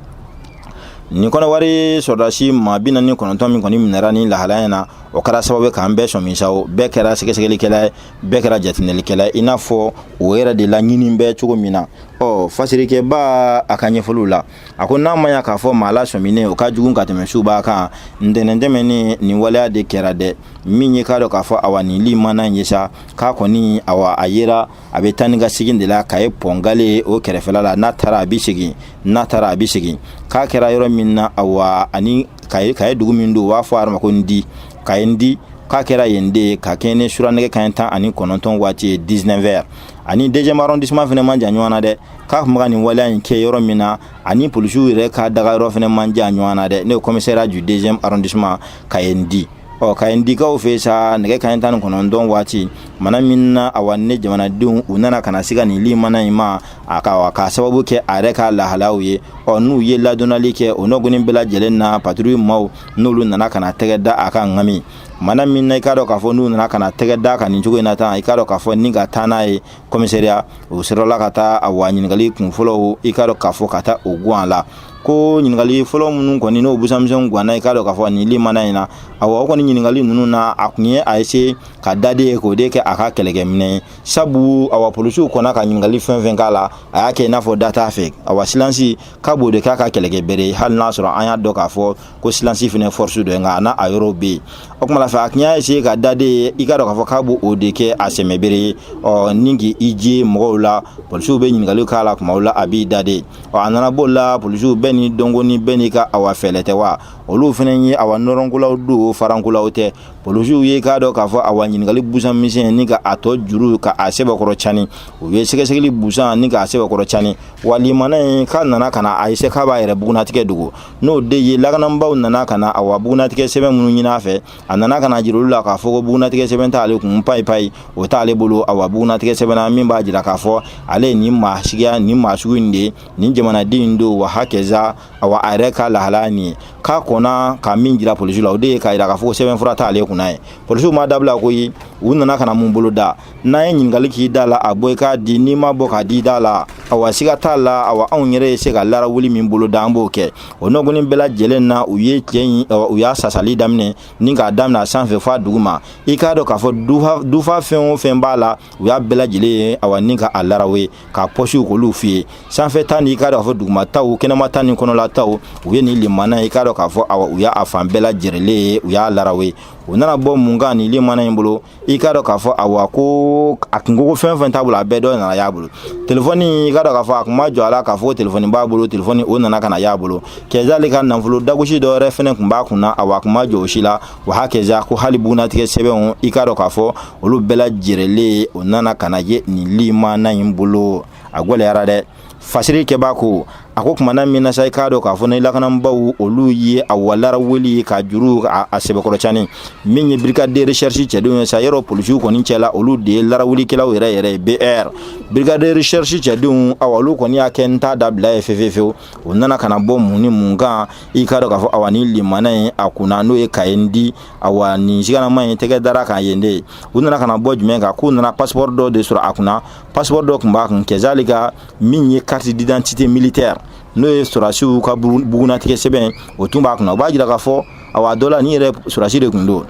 nin kɔnɔwari sɔrɔdasi maa bi naani kɔnɔntɔn min kɔni minɛra ni lahalaya in na o kɛra sababu k'an bɛɛ sɔmin sa o bɛɛ kɛra sɛgɛsɛgɛlikɛla ye bɛɛ kɛra jateminɛlikɛla i n'a fɔ o yɛrɛ de laɲini bɛ cogo min na ɔ fasirikɛbaa ka ɲɛfɔliw la a ko n'a ma ya k'a fɔ maa lasɔminen o ka jugu ka tɛmɛ subaa kan ntɛnɛn tɛmɛnen nin waleya de kɛra dɛ min ye k'a dɔn k'a fɔ awa nin li mana ye sa k'a kɔni awa a yera a bɛ taa ni ka segin de la kayi pɔn galɛ o kɛrɛfɛla la n'a taara a bɛ segin n'a taara a bɛ segin k'a kɛra yɔrɔ min na awa ani kayi dugu min don u b'a fɔ a ma ko ndi kayi ndi k'a kɛra yen de ye ka kɛɲɛ ni sura nɛgɛ kaɲɛ tan ani kɔnɔntɔn waati ye 19 heures ani deuxième arrondissement fɛnɛ man jan ɲɔgɔn na dɛ k'a kun ka nin waleya in kɛ yɔrɔ min na ani polisiw yɛrɛ ka daga yɔrɔ fɛnɛ man jan ɲɔgɔn na dɛ n'o ye commissariat du deuxième arrondissement kayi ndi ɔ kayi ndikaw fɛ sa nɛgɛ kaɲɛ tan ni kɔnɔntɔn waati mana min na awa ne jamanadenw u nana ka na se ka nin li mana in ma a ka k'a sababu kɛ a yɛrɛ ka lahalaw ye ɔ n'u ye ladɔnnali kɛ o nɔgɔnin bɛɛ lajɛlen na patrouille maw n'olu nana ka na tɛgɛ da a kan ŋami mana min na i k'a dɔn k'a fɔ n'u nana ka na tɛgɛ da a kan nin cogo in na tan i k'a dɔn k'a fɔ ni ka taa n'a ye kɔmisɛriya o sɔrɔla ka taa awa ɲininkali kun fɔlɔw i k'a dɔn k'a fɔ ka taa o gun a la ko ɲininkali fɔlɔ minnu kɔni n'o busamisɛnw ganna i k'a dɔn k'a fɔ nin limana in na awa o kɔni ɲininkali ninnu na a tun ye a essaye ka dade ye k'o de kɛ a ka kɛlɛkɛminɛn ye sabu awa polisiw kɔnna ka ɲininkali fɛn fɛn k'a la a y'a kɛ i n'a fɔ da t'a fɛ awa silansi k'a b'o de k'a ka kɛlɛkɛbere ye hali n'a sɔrɔ an y'a dɔn k'a fɔ ko silansi fɛnɛ force dɔ ye nka a n'a yɔrɔw be yen o kuma la fɛ a tun y'a essaye ka dade ye i k'a dɔn k'a fɔ k'a b'o de kɛ a sɛmɛbere ye ani k'i je mɔgɔw la polisiw be ɲininkaliw k'a la kumaw la a b'i dade ɔ a nana b'o la polisiw bɛɛ n'i dɔnko ni bɛɛ n'i ka awa fɛɛrɛ tɛ wa olu fɛnɛ ye awa nɔrɔnkolaw don farankolaw tɛ polisiw ye i k'a dɔn k'a fɔ awa ɲininkali busan misɛn ni ka a tɔ juru ka a sɛbɛkɔrɔ cani u ye sɛgɛsɛgɛli busan ni k'a sɛbɛkɔrɔ cani wa limana in k'a nana ka na a essaye k'a b'a yɛrɛ bugunatigɛ dogo n'o de ye lakananbaw nana ka na awa bugunatigɛ sɛbɛn minnu ɲini a fɛ a nana ka na jira olu la k'a fɔ ko bugunatigɛ sɛbɛn t'ale kun payi payi o t'ale bolo awa bugunatigɛ sɛbɛn na min b'a jira k'a fɔ ale ye nin maa suguya nin maa sugu in de ye nin jamanaden in don wa hakɛza awa a yɛrɛ ka lahalaya nin ye k'a kɔnna ka min jira polisiw la o de ye k'a jira k'a fɔ ko sɛbɛnfura t'ale kunna ye polisiw m'a dabila koyi u nana ka na mun bolo da n'an ye ɲininkali k'i da la a bɔ i k'a di n'i m'a bɔ k'a di da la awa siga t'a la awa anw yɛrɛ ye se ka larawuli min bolo da an b'o kɛ o nɔgɔni bɛɛ lajɛlen na u ye cɛ in u y'a sasali daminɛ ni k'a daminɛ a sanfɛ f'a duguma i k'a dɔn k'a fɔ dufa fɛn o fɛn b'a la u y'a bɛɛ lajɛlen ye awa ni ka a laraw ye k'a pɔsiw k'olu fuye sanfɛ ta ni i k'a dɔn k'a fɔ duguma taw kɛnɛma ta ni kɔnɔla taw u ye nin limana ye i k'a dɔn k'a fɔ awa u y'a fan bɛɛ lajɛrɛlen ye u y'a laraw ye u nana bɔ mun kan nin limana in bolo i k'a dɔn k'a fɔ awa ko a kun ko ko fɛn fɛn t'a bolo a bɛɛ dɔ nana y'a bolo telefɔni i k'a dɔn k'a fɔ a kun ma jɔ a la k'a fɔ telefɔni b'a bolo telefɔni o nana ka na y'a bolo kɛza ale ka nafolo dagosi dɔ wɛrɛ fɛnɛ kun b'a kunna awa a kun ma jɔ o si la wa hakɛza ko hali bugunatigɛ sɛbɛnw i k'a dɔn k'a fɔ olu bɛɛ lajɛrɛlen o nana ka na ye nin limana in bolo a gwɛlɛyara dɛ fasiri kɛbaa ko a ko tumana min na sa i k'a dɔn k'a fɔ nin lakananbaw olu ye awa larawuli ye ka juru a sɛbɛkɔrɔ cani min ye brigade de recherche cɛdenw ye sa yɔrɔ polisiw kɔni cɛ la olu de ye larawulikɛlaw yɛrɛ yɛrɛ ye BR brigade de recherche cɛdenw aw olu kɔni y'a kɛ n t'a dabila ye fewfewfew u nana ka bɔ mun ni mun kan i k'a dɔn k'a fɔ awa nin limana in a kun n'o ye ka ye di awa nin siganama in tɛgɛ dara a kan yen de ye u nana ka bɔ jumɛn kan k'u nana pasipɔri dɔ de sɔrɔ a kunna pasipɔri dɔ tun b'a kun kɛza ale ka min ye carte d'identité militaire n'o ye sɔrɔdasiw ka bugunatigɛ sɛbɛn o tun b'a kunna u b'a jira k'a fɔ awa dɔ la ni yɛrɛ sɔrɔdasi de tun don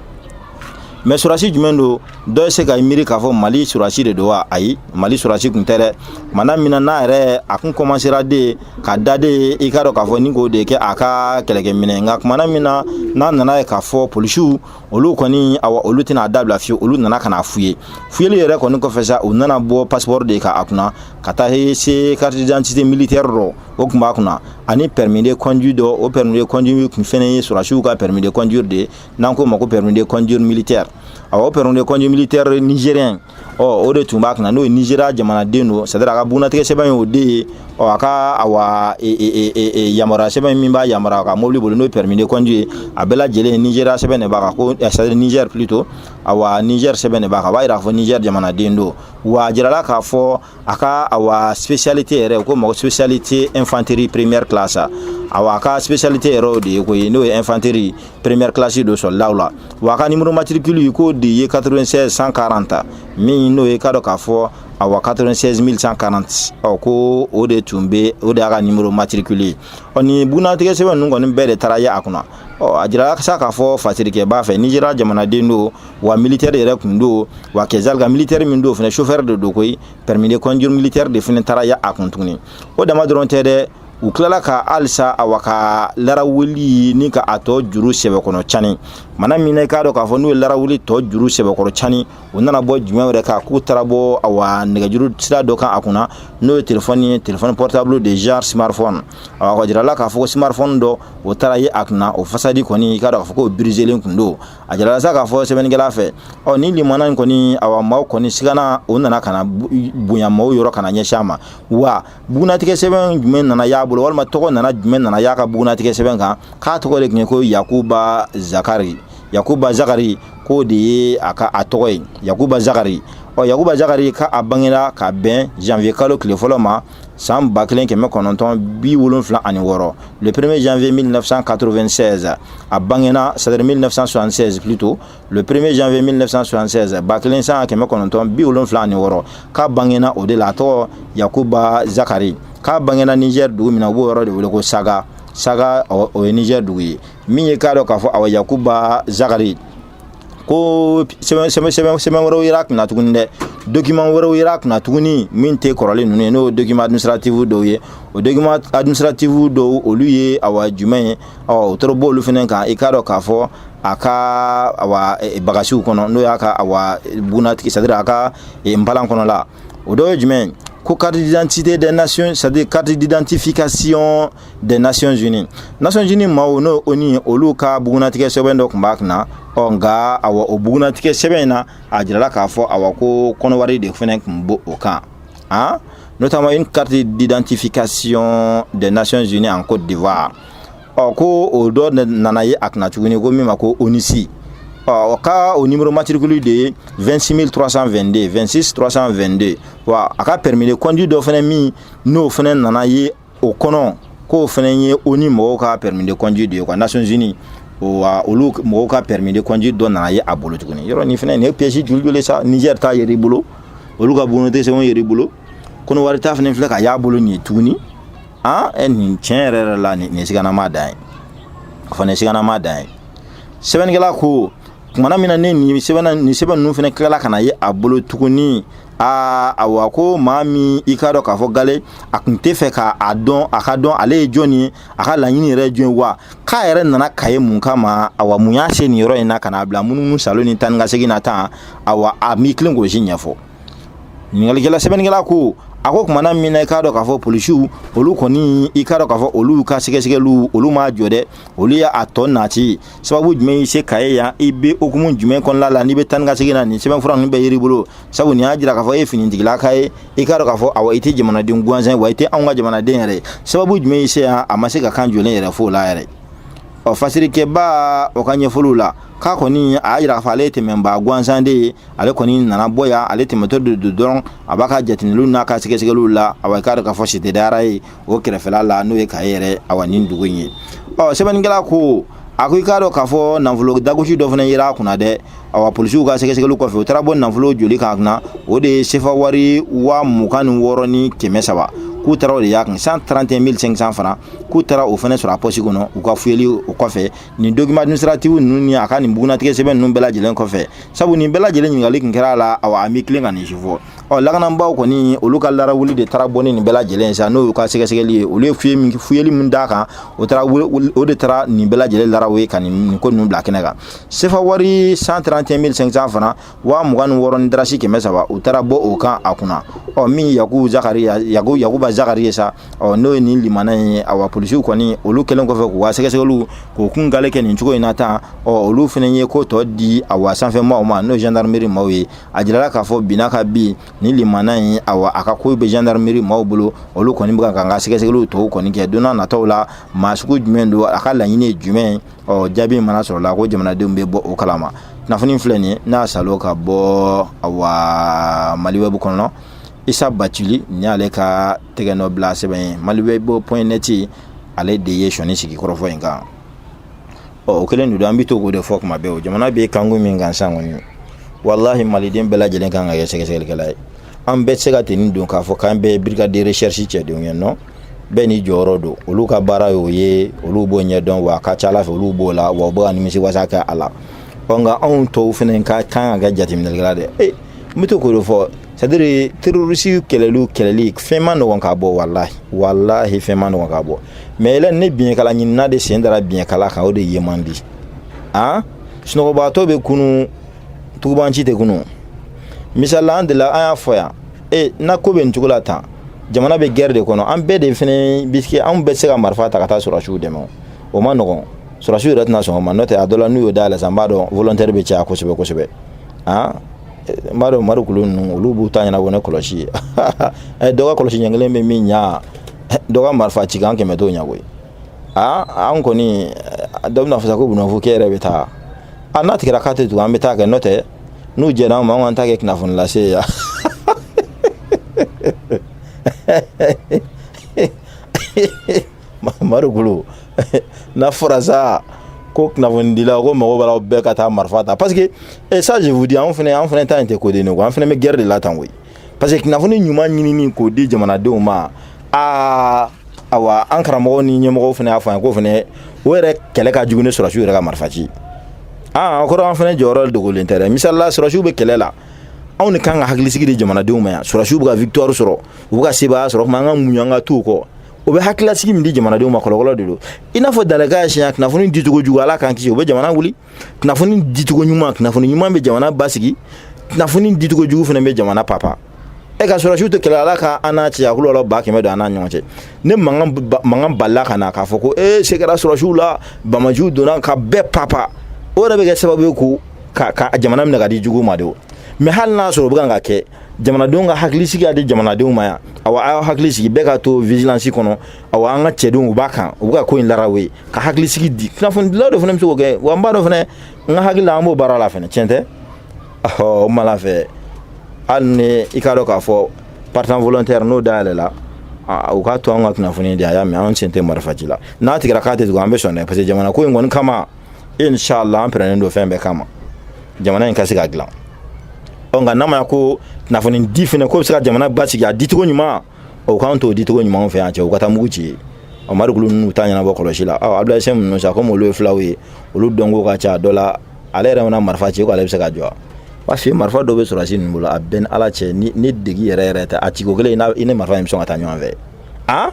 mais sɔrɔdasi jumɛn don dɔ bɛ se ka miiri k'a fɔ mali sɔrɔdasi de don wa ayi mali sɔrɔdasi tun tɛ dɛ mana min na n'a yɛrɛ a kun kɔmansera de ka daden i k'a dɔn k'a fɔ ni k'o de kɛ a ka kɛlɛkɛminɛn nka tuma na min na n'a nana ye k'a fɔ polisiw olu kɔni awa olu tɛna a dabila fewu olu nana ka na fuye fuyeli yɛrɛ kɔni kɔfɛ sa u nana bɔ passeport de kan a kunna ka taa se carte d'identité militaire dɔ o tun b'a kunna ani permis de conduire dɔ o permis de conduire tun fɛnɛ ye sɔrɔdasiw ka permis de conduire de n'an k'o ma ko permis de conduire militaire awa o permis de conduire militaire nigérien ɔ o de tun b'a kunna n'o ye nizeriya jamanaden don c'est-à-dire a ka bunatigɛ sɛbɛn ye o de ye ɔ a ka awa e, e, e, yamaruya sɛbɛn min b'a yamaruya ka mobili boli n'o ye permis de conduire ye a bɛɛ lajɛlen nizeriya sɛbɛn de b'a kan ko eh, c'est-à-dire niger plutôt awa niger sɛbɛn de b'a kan a b'a yira k'a fɔ niger jamanaden don wa a jirala k'a fɔ a ka awa spécialité yɛrɛ k'o ma ko spécialité infanterie première classe awa a ka spécialité yɛrɛ o de ye ko ye n'o ye infanterie première classe don sɔrɔdasiw la wa a ka numéro matricule k'o de ye 96 140 min n'o ye k'a dɔn k'a fɔ awa 96 140 ɔ ko o de tun bɛ o de y'a ka numéro matricule ye ɔ nin bunnatigɛ sɛbɛn ninnu kɔni bɛɛ de taara ye a kunna ɔ a jirala sa k'a fɔ fasirikɛba fɛ nizeriya jamanaden don wa militaire yɛrɛ tun don wa kɛzali ka militaire min don fana chauffeur de don koyi permis de conduire militaire de fana taara ye a kun tuguni o dama dɔrɔn tɛ dɛ u tilala ka halisa awa ka larawuli ni ka a tɔ juru sɛbɛkɔrɔ cani mana min na i k'a dɔn k'a fɔ n'u ye larawuli tɔ juru sɛbɛkɔrɔ cani u nana bɔ jumɛn wɛrɛ kan k'u taara bɔ awa nɛgɛjuru sira dɔ kan a kunna n'o ye telefɔni ye telefɔni portable de genre smartphone awa k'a jirala k'a fɔ ko smartphone dɔ o taara ye a kunna o façade kɔni i k'a dɔn k'a fɔ k'o birizelen kun don a jirala sa k'a fɔ sɛbɛnnikɛla fɛ ɔ ni limana in kɔni awa maaw kɔni sigana o nana kana bonya maaw yɔrɔ kana ɲɛsin a ma wa bugunatigɛ sɛbɛn jumɛn nana y'a bolo walima tɔgɔ nana jumɛn nana y'a ka bugunatigɛ sɛbɛn kan k'a tɔgɔ de tun ye ko yakuba zakari yakuba zakari k'o de ye a ka a tɔgɔ ye yakuba zakari ɔ yakuba zakari k'a bangera ka bɛn janvier kalo tile fɔlɔ ma san ba kelen kɛmɛ kɔnɔntɔn bi wolonfila ani wɔɔrɔ le premier janvier 1996 a bangena c'est-à-dire 1976 plutôt le premier janvier 1976 ba kelen san kɛmɛ kɔnɔntɔn bi wolonfila ani wɔɔrɔ k'a bangena o de la a tɔgɔ yakuba zakari k'a bangena niger dugu min na u b'o yɔrɔ de wele ko saga saga o ye niger dugu ye min ye k'a dɔn k'a fɔ awa yakuba zakari ko sɛbɛn wɛrɛw yera a kunna tuguni dɛ document wɛrɛw yera a kunna tuguni min tɛ kɔrɔlen ninnu ye n'o document administratif dɔw ye o document administratif dɔw olu ye awa jumɛn ye ɔ o tɔrɔ b'olu fana kan i k'a dɔn k'a fɔ a ka awa e, e, bagasiw kɔnɔ n'o y'a ka awa e, bunatigi c'est à dire a ka npalan kɔnɔla o dɔ ye jumɛn ye ko carte d'identité des nations c'est à dire carte d'identification des Nations Unies Nations Unies maaw n'o ONU ye olu ka bugunnatigɛ sɛbɛn dɔ tun b'a kunna ɔ nka awa o bugunnatigɛ sɛbɛn in na a jirala k'a fɔ awa ko kɔnɔwari de fɛnɛ tun b'o o kan hein? notamment une carte d'identification des Nations Unies en Côte d'Ivoire ɔ ko o dɔ nana ye a kunna tuguni ko min ma ko ONUCI o ka o numéro matricule de ye 26 322 26 322 wa a ka permis de conduire dɔ fɛnɛ min n'o fɛnɛ nana ye o kɔnɔ k'o fana ye ONU mɔgɔw ka permis de conduire de ye quoi Nations Unies wa olu mɔgɔw ka permis de conduire dɔ nana ye a bolo tuguni yɔrɔ nin fana nin ye pièce joli joli sa Niger ta yera i bolo olu ka bugunnatigɛ sɛbɛnw yera i bolo kɔnɔwari ta fana filɛ ka y'a bolo nin ye tuguni an ɛ nin tiɲɛ yɛrɛ yɛrɛ la nin siganama dan ye o fana siganama dan ye sɛbɛnnikɛla ko tumana min na ni nin sɛbɛn nin sɛbɛn ninnu fana tilala ka na ye a bolo tuguni aa awa ko maa min i k'a dɔn k'a fɔ gale a tun tɛ fɛ k'a dɔn a k'a dɔn ale ye jɔn ye a ka laɲini yɛrɛ ye jɔn wa k'a yɛrɛ nana Kayes mun kama awa mun y'a se nin yɔrɔ in na ka n'a bila munu saalo ni taa ni ka segin na tan awa a m'i tilen k'o si ɲɛfɔ ɲininkali sɛbɛnnikɛla ko a ko tumana min na i k'a dɔn k'a fɔ polisiw olu kɔni i k'a dɔn k'a fɔ olu ka sɛgɛsɛgɛliw olu ma jɔ dɛ olu y'a a tɔ nati sababu jumɛn y'i se Kayes yan i bɛ hukumu jumɛn kɔnɔna la n'i bɛ taa ni ka segin na nin sɛbɛnfura ninnu bɛɛ yer'i bolo sabu nin y'a jira k'a fɔ e ye finitigilaka ye i k'a dɔn k'a fɔ awa i tɛ jamanaden gansan ye wa i tɛ anw ka jamanaden yɛrɛ ye sababu jumɛn y'i se yan a ma se ka kan jɔlen yɛrɛ f'o la yɛrɛ ɔ fasirikɛbaa o ka ɲɛfɔliw la k'a kɔni a y'a jira k'a fɔ ale ye tɛmɛnbaa gansan de ye ale kɔni nana bɔ yan ale tɛmɛtɔ de don dɔrɔn a b'a ka jateminɛliw n'a ka sɛgɛsɛgɛliw la awa i k'a dɔn k'a fɔ Cité des Rails o kɛrɛfɛla la n'o ye Kayes yɛrɛ awa nin dugu in ye ɔ sɛbɛnnikɛla ko a ko i k'a dɔn k'a fɔ nafolo dagosi dɔ fana yera a kunna dɛ awa polisiw ka sɛgɛsɛgɛli kɔfɛ u taara bɔ nafolo joli kan a kunna o de ye sefa wari waa mugan ni wɔɔrɔ ni kɛmɛ saba k'u taara o de y'a kun 131 500 francs k'u taara o fana sɔrɔ a pɔsi kɔnɔ u ka fuyeli o kɔfɛ nin document administratif ninnu ni a ka nin bugunnatigɛ sɛbɛn ninnu bɛɛ lajɛlen kɔfɛ sabu nin bɛɛ lajɛlen ɲininkali tun kɛra a la awa a m'i tilen ka nin si fɔ ɔ lakanabaaw kɔni olu ka larawuli de taara bɔ ni nin bɛɛ lajɛlen sa n'o y'u ka sɛgɛsɛgɛli ye olu ye fiye min fiyeli min d'a kan o taara o de taara nin bɛɛ lajɛlen laraw ye ka nin ko ninnu bila kɛnɛ kan sefa wari 131500 fana waa mugan ni wɔɔrɔ ni darasi kɛmɛ saba u taara bɔ o kan a kunna ɔ min yaku zakari yaku yakuba zakari ye sa ɔ n'o ye nin limana ye awa polisiw kɔni olu kɛlen kɔfɛ k'u ka sɛgɛsɛgɛliw k'u kun gale kɛ nin cogo in na tan ɔ olu fana ye ko tɔ di awa sanfɛ maaw ma n'o ye gendarmerie maaw ye a jirala k'a fɔ binna ka bin ni limana in awa a ka kow bɛ gendarmerie maaw bolo olu kɔni bɛ k'u ka sɛgɛsɛgɛliw tɔw kɔni kɛ don nataw la maa sugu jumɛn don a ka laɲini ye jumɛn ɔ jaabi mana sɔrɔla ko jamanadenw bɛ bɔ o kalama kunnafoni filɛ nin ye n'a salo ka bɔ awa mali wɛbu kɔnɔ isa bacili nin y'ale ka tɛgɛ nɔ bila sɛbɛn ye mali wɛbu point net ale de ye sɔni sigi kɔrɔfɔ in kan ɔ o kelen de don an bɛ to k'o de fɔ kuma bɛɛ o jamana bɛ kanko min kan san kɔni walahi maliden bɛɛ lajɛlen kan ka kɛ sɛgɛsɛgɛlikɛla ye an bɛɛ se ka tenue don k'a fɔ k'an bɛɛ brigade de recherche cɛdenw ye non bɛɛ n'i jɔyɔrɔ don olu ka baara y'o ye olu b'o ɲɛdɔn wa a ka ca ala fɛ olu b'o la wa u bɛ ka nimisiwasa kɛ a la ɔ nka anw tɔw fana ka kan ka kɛ jateminɛlikɛla de ye n bɛ to k'o de fɔ c'est-à-dire terorisi kɛlɛliw kɛlɛli fɛn ma nɔgɔn ka bɔ walahi walahi fɛn ma nɔgɔn ka bɔ mais yɛlɛ ni biɲɛkala ɲinina de sen dara biɲɛkala kan o de ye man di an sunɔgɔbagatɔ bɛ kunun tugubanci tɛ kunun misali la an delila an y'a fɔ yan e na ko bɛ nin cogo la tan jamana bɛ guerre de kɔnɔ an bɛɛ de fana bɛ se anw bɛɛ se ka marifa ta ka taa sɔrɔsiw dɛmɛ o ma nɔgɔn sɔrɔsiw yɛrɛ tɛna sɔn o ma n'o tɛ a dɔ la n'u y'o dayɛlɛ sisan n b'a dɔn volontaire bɛ caya kosɛbɛ kosɛbɛ an n b'a dɔn morikulu ninnu olu b'u ta ɲɛnabɔ ni kɔlɔsi ye dɔ ka kɔlɔsi ɲɛ kelen bɛ min ɲa dɔ ka marifa ci kan kɛmɛ t'o ɲɛ koyi aa an kɔni dɔ bɛna fɔ sa ko bunafo k'e yɛrɛ bɛ taa a n'a tigɛra k'a tɛ tugu an bɛ taa kɛ n'o tɛ n'u jɛra an ma an k'an ta kɛ kunnafoni lase ye yan madu golo n'a fɔra sa ko kunnafonidila ko mago b'a la bɛɛ ka taa marifa ta parce que eh, ça je vous dis anw fɛnɛ anw fɛnɛ ta in tɛ koden ne ko an fɛnɛ bɛ guerre de la tan koyi parce que kunnafoni ɲuman ɲinini k'o di jamanadenw ma aa awa an karamɔgɔw ni ɲɛmɔgɔw fana y'a fɔ an k'o fana o yɛrɛ kɛlɛ ka jugu ni sɔrɔsiw yɛrɛ ka marifa ci aa o kɔrɔ an fana jɔyɔrɔ dogolen tɛ dɛ misali la sɔrɔsiw bɛ kɛlɛ la anw de kan ka hakilisigi di jamanadenw ma yan sɔrɔsiw bɛ ka victoire sɔrɔ u bɛ ka sebaaya sɔrɔ kuma an ka muɲu an ka t'u kɔ o bɛ hakilisigi min di jamanadenw ma kɔlɔkɔlɔ de don i n'a fɔ dalaka siɲɛ kunnafoni dicogo jugu ala k'an kisi o bɛ jamana wuli kunnafoni dicogo ɲuman kunnafoni ɲuman bɛ jamana basigi kunnafoni dicogo jugu fana bɛ jamana papa e ka sɔrɔsiw tɛ kɛlɛ ala ka an n'a cɛ a kulu la ba kɛmɛ don an n'a ɲɔgɔn cɛ ne man kan balila ka na k'a fɔ ko ee se kɛra sɔrɔsiw la bamajuw donna ka bɛɛ papa o yɛrɛ bɛ kɛ sababu ye ko ka ka jamana minɛ ka di jugu ma de o mais hali n'a sɔrɔ o bɛ kan ka kɛ jamanadenw ka hakilisigi ka di jamanadenw ma yan awa a y'aw hakili sigi bɛɛ ka to vigilance kɔnɔ awa an ka cɛdenw u b'a kan u bɛ ka ko in laraw ye ka hakilisigi di kunnafonidilaw de fana bɛ se k'o kɛ wa n b'a dɔn fana n ka hakili la an b'o baara la fana tiɲɛ tɛ ɔ mala fɛ hali ni i k'a dɔn k'a fɔ partant volontaire n'o dayɛlɛla u k'a to an ka kunnafoni di a y'a mɛn an sen tɛ marifaci la n'a tigɛra k'a tɛ tugun an bɛ sɔn dɛ parce que jamana ko in kɔni kama inshallah an pɛrɛlen don fɛn bɛɛ kama jamana in ka se ka dilan ɔ nka n'a ma ko kunnafoni di fana k'o bɛ se ka jamana basigi a dicogo ɲuman o k'an t'o di cogo ɲuman fɛ yan cɛ u ka taa mugu ci ɔ marikulu ninnu ta ɲɛnabɔ kɔlɔsi la ɔ abdulayi sɛn ninnu sa komi olu ye fulaw ye olu dɔnko ka ca dɔ la ale yɛrɛ mana marifa ci ko ale bɛ se ka jɔ n b'a f'i ye marifa dɔ bɛ sɔrɔsi ninnu bolo a b'i ni ala cɛ ni ni degi yɛrɛ yɛrɛ tɛ a ciko kelen i ni marifa in bɛ sɔn ka taa ɲɔgɔn fɛ a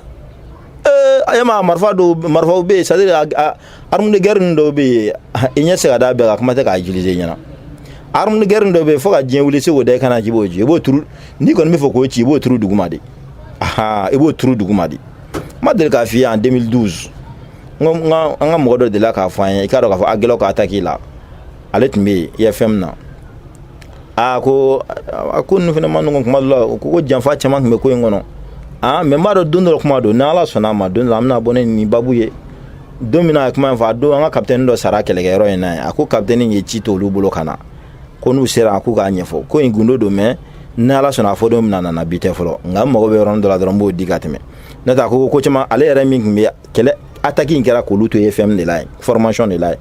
ee a ye ma marifa dɔw marifaw bɛ yen c'est à dire arme de guerre dɔw bɛ yen i ɲɛ tɛ se ka da bɛɛ kan kuma tɛ k'a utiliser i ɲɛna arme de guerre dɔw bɛ yen fo ka diɲɛ wuli se k'o da i kan na k'i b'o ci i b'o turu n'i kɔni b'a fɛ k'o ci i b'o turu duguma de ahan i b'o turu duguma de n ma deli k'a f'i ye en 2012 n ko n ka an ka mɔgɔ dɔ delila k'a fɔ an ye i k'a dɔn k'a fɔ Aguelhok attaque la ale tun bɛ yen IFM na aa ko a ko ninnu fana ma nɔgɔn kuma dɔ la u ko ko janfa caman tun bɛ ko in kɔnɔ aa mais n b'a dɔn don dɔ kuma don ni ala sɔnna a ma don dɔ an bɛna bɔ ne nin babu ye don min na a kuma in fɔ a don an ka kapitɛni dɔ sara kɛlɛkɛyɔrɔ in na yen a ko kapitɛni ye ci to olu bolo ka na ko n'u sera a k'u k'a ɲɛfɔ ko in gundo don mais ni ala sɔnna a fɔ don bɛna na bi tɛ fɔlɔ nka n mago bɛ yɔrɔnin dɔ la dɔrɔn n b'o di ka tɛmɛ n'o tɛ a ko ko caman ale yɛrɛ min tun bɛ kɛlɛ ataki in kɛra k'olu to IFM de la yen formation de la yen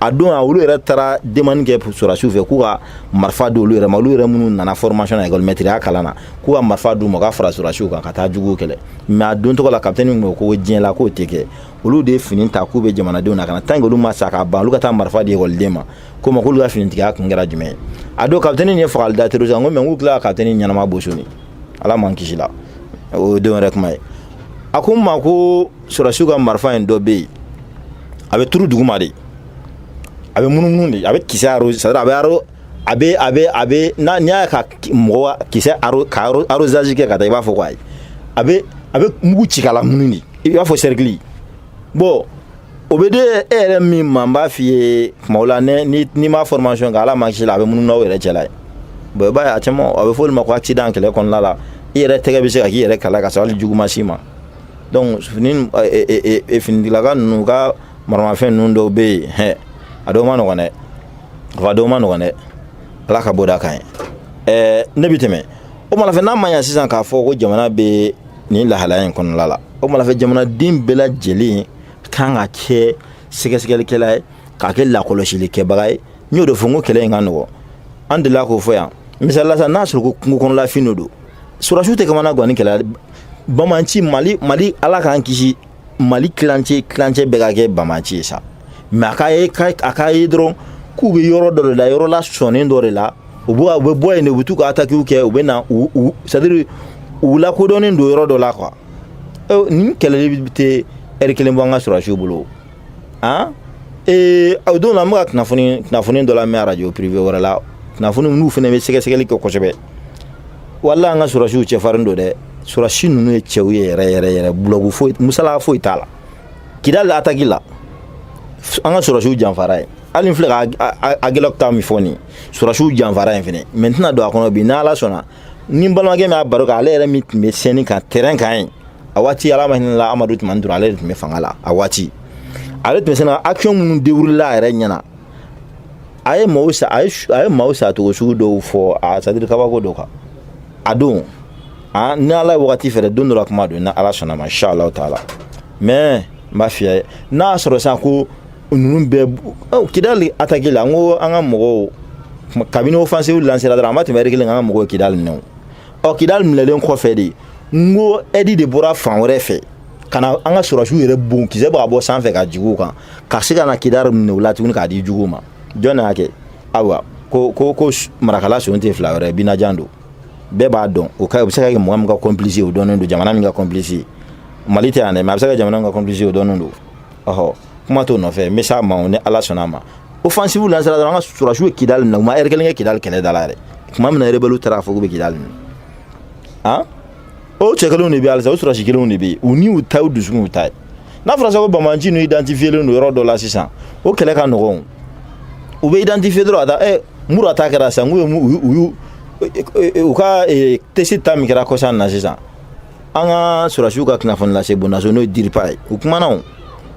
a don a olu yɛrɛ taara demande kɛ sɔrɔdasiw fɛ k'u ka marifa di olu yɛrɛ ma olu yɛrɛ minnu nana formation na ekɔlimɛtiriya kalan na k'u ka marifa d'u ma u ka fara sɔrɔdasiw kan ka taa juguw kɛlɛ mais a don tɔgɔ la kapitɛni nin ko ko diɲɛ la k'o tɛ kɛ olu de ye fini ta k'u bɛ jamanadenw lakana tant que olu ma sa ka ban olu ka taa marifa di ekɔliden ma ko ma k'olu ka finitigiya kun kɛra jumɛn ye a don kapitɛni nin ye fagali da terroriste kan ko mais k'u tila ka kapitɛni ɲɛnama boso ala m'an kisi la o de yɛrɛ kuma ye a ko n ma ko sɔrɔsiw ka marifa in dɔ bɛ yen a bɛ turu duguma de a bɛ munumunu de a bɛ kisɛ arroser a bɛ aro a bɛ a bɛ a bɛ n'a n'i y'a ka mɔgɔ kisɛ aro ka arrosage kɛ ka taa i b'a fɔ ko ayi a bɛ a bɛ mugu ci k'a lamunun de i b'a fɔ cercle bɔn o bɛ de e yɛrɛ min ma n b'a f'i ye kuma la n'i ma formation kɛ ala ma si la a bɛ munun n'aw yɛrɛ cɛla ye bɔn i b'a ye a caman a bɛ fɔ olu ma ko accident kɛlɛ kɔnɔna la i yɛrɛ tɛgɛ bɛ se ka k'i yɛrɛ kala ka sɔrɔ hali jugu ma s'i ma donc fini finitigilaka ninnu ka maramafɛn ninnu dɔw bɛ yen hɛ a dɔw ma nɔgɔn dɛ a dɔw ma nɔgɔn dɛ ala ka bɔ da kan ye ɛɛ ne bɛ tɛmɛ o mana fɛ n'a ma ɲa sisan k'a fɔ ko jamana bɛ nin lahalaya in kɔnɔla la o tuma fɛ jamanaden bɛɛ lajɛlen ka kan ka kɛ sɛgɛsɛgɛlikɛla ye ka kɛ lakɔlɔsilikɛbaga ye n y'o de fɔ n ko kɛlɛ in ka nɔgɔ an delila k'o fɔ yan misali la sa n'a sɔrɔ ko kungo kɔnɔla fɛn de don sɔrɔsiw tɛ kamanagan nin kɛlɛ banbaanci mali mali ala k'an kisi mali tilancɛ tilancɛ bɛɛ ka kɛ banbaanci ye sa mɛ a ka ye a ka ye dɔrɔn k'u bɛ yɔrɔ dɔ de la yɔrɔ la sɔnnen dɔ de la u bɛ u bɛ bɔ yen de u bɛ t'u ka atakiw kɛ u bɛ na c'est-à-dire u lakodɔnnen don yɔrɔ dɔ la ko nin kɛlɛli in tɛ ɛri kelen bɔ an ka sɔrɔsiw bolo an ee o don na n bɛ ka kunnafoni kunnafoni dɔ lamɛn arajo pirive wɛrɛ la kunnafoni n'u fana bɛ sɛgɛsɛgɛli kɛ kosɛbɛ wala an ka sɔrɔsiw cɛfarin don dɛ sɔrɔsi ninnu ye cɛw ye yɛrɛ yɛrɛ yɛrɛ bulɔgu foyi musala foyi t'a la kidali ataki la an ka sɔrɔsiw janfara yen hali n filɛ ka agɛlɔki ta min fɔ nin sɔrɔsiw janfara yen fɛnɛ mɛ n tɛna don a kɔnɔ bi n'ala sɔnna ni balimakɛ min y'a baro kan ale yɛrɛ min tun bɛ scène kan terrain kan yen a waati ala ma hinɛ a la amadu tumani ture ale de tun bɛ fanga la a waati ale tun bɛ scène action minnu dérouléla a yɛrɛ ɲɛna a ye maaw sa a ye a ye maaw sacogo sugu dɔw fɔ c'est-à-dire kabako dɔ kan a don a ni ala ye wagati fɛɛrɛ don dɔ la kuma don ni ala sɔnna ma inshallah taala mais n b'a f'i ye n'a sɔrɔ sisan ko ninnu bɛɛ kidali ataki la n ko an ka mɔgɔw kabini offensive lancéra dɔrɔn an ma tɛmɛ ɛri kelen an ka mɔgɔw kidali minɛ ɔ kidali minɛlen kɔfɛ de n ko ɛdi de bɔra fan wɛrɛ fɛ ka na an ka sɔrɔsiw yɛrɛ bon kisɛ b'a bɔ sanfɛ ka juguw kan ka se ka na kidali minɛ u la tuguni k'a di juguw ma jɔn y'a kɛ ayiwa ko ko ko marakala son tɛ fila wɛrɛ binajan don bɛɛ b'a dɔn o ka u bɛ se ka kɛ mɔgɔ min ka kɔnpilisi o dɔnnen don jamana min ka kɔnpilisi mali tɛ yan dɛ mɛ a bɛ se ka jamana min ka kɔnpilisi o dɔnnen don ɔhɔ kuma t'o nɔfɛ n bɛ s'a ma ni ala sɔnna a ma offensive lancéra dɔrɔn an ka sɔrɔsiw ye kidali minɛ u ma ɛri kelen kɛ kidali kɛlɛ da la yɛrɛ tuma min na rebɛliw taara a fɔ k'u bɛ kidali minɛ han o cɛ kelenw de bɛ halisa o sɔrɔsi kelenw de bɛ yen u ni u ta u dusukun u ta ye n'a fɔra sa ko banbaanci n'u identifielen don yɔrɔ dɔ la sisan o kɛlɛ ka nɔgɔn u bɛ identifier dɔrɔn a ta ɛ mura ta kɛra sisan k'u ye u y'u u ka tesiti ta min kɛra kɔsa in na sisan an ka sɔrɔdasiw ka kunnafoni lase bondaso n'o ye DIRPA ye u kumana o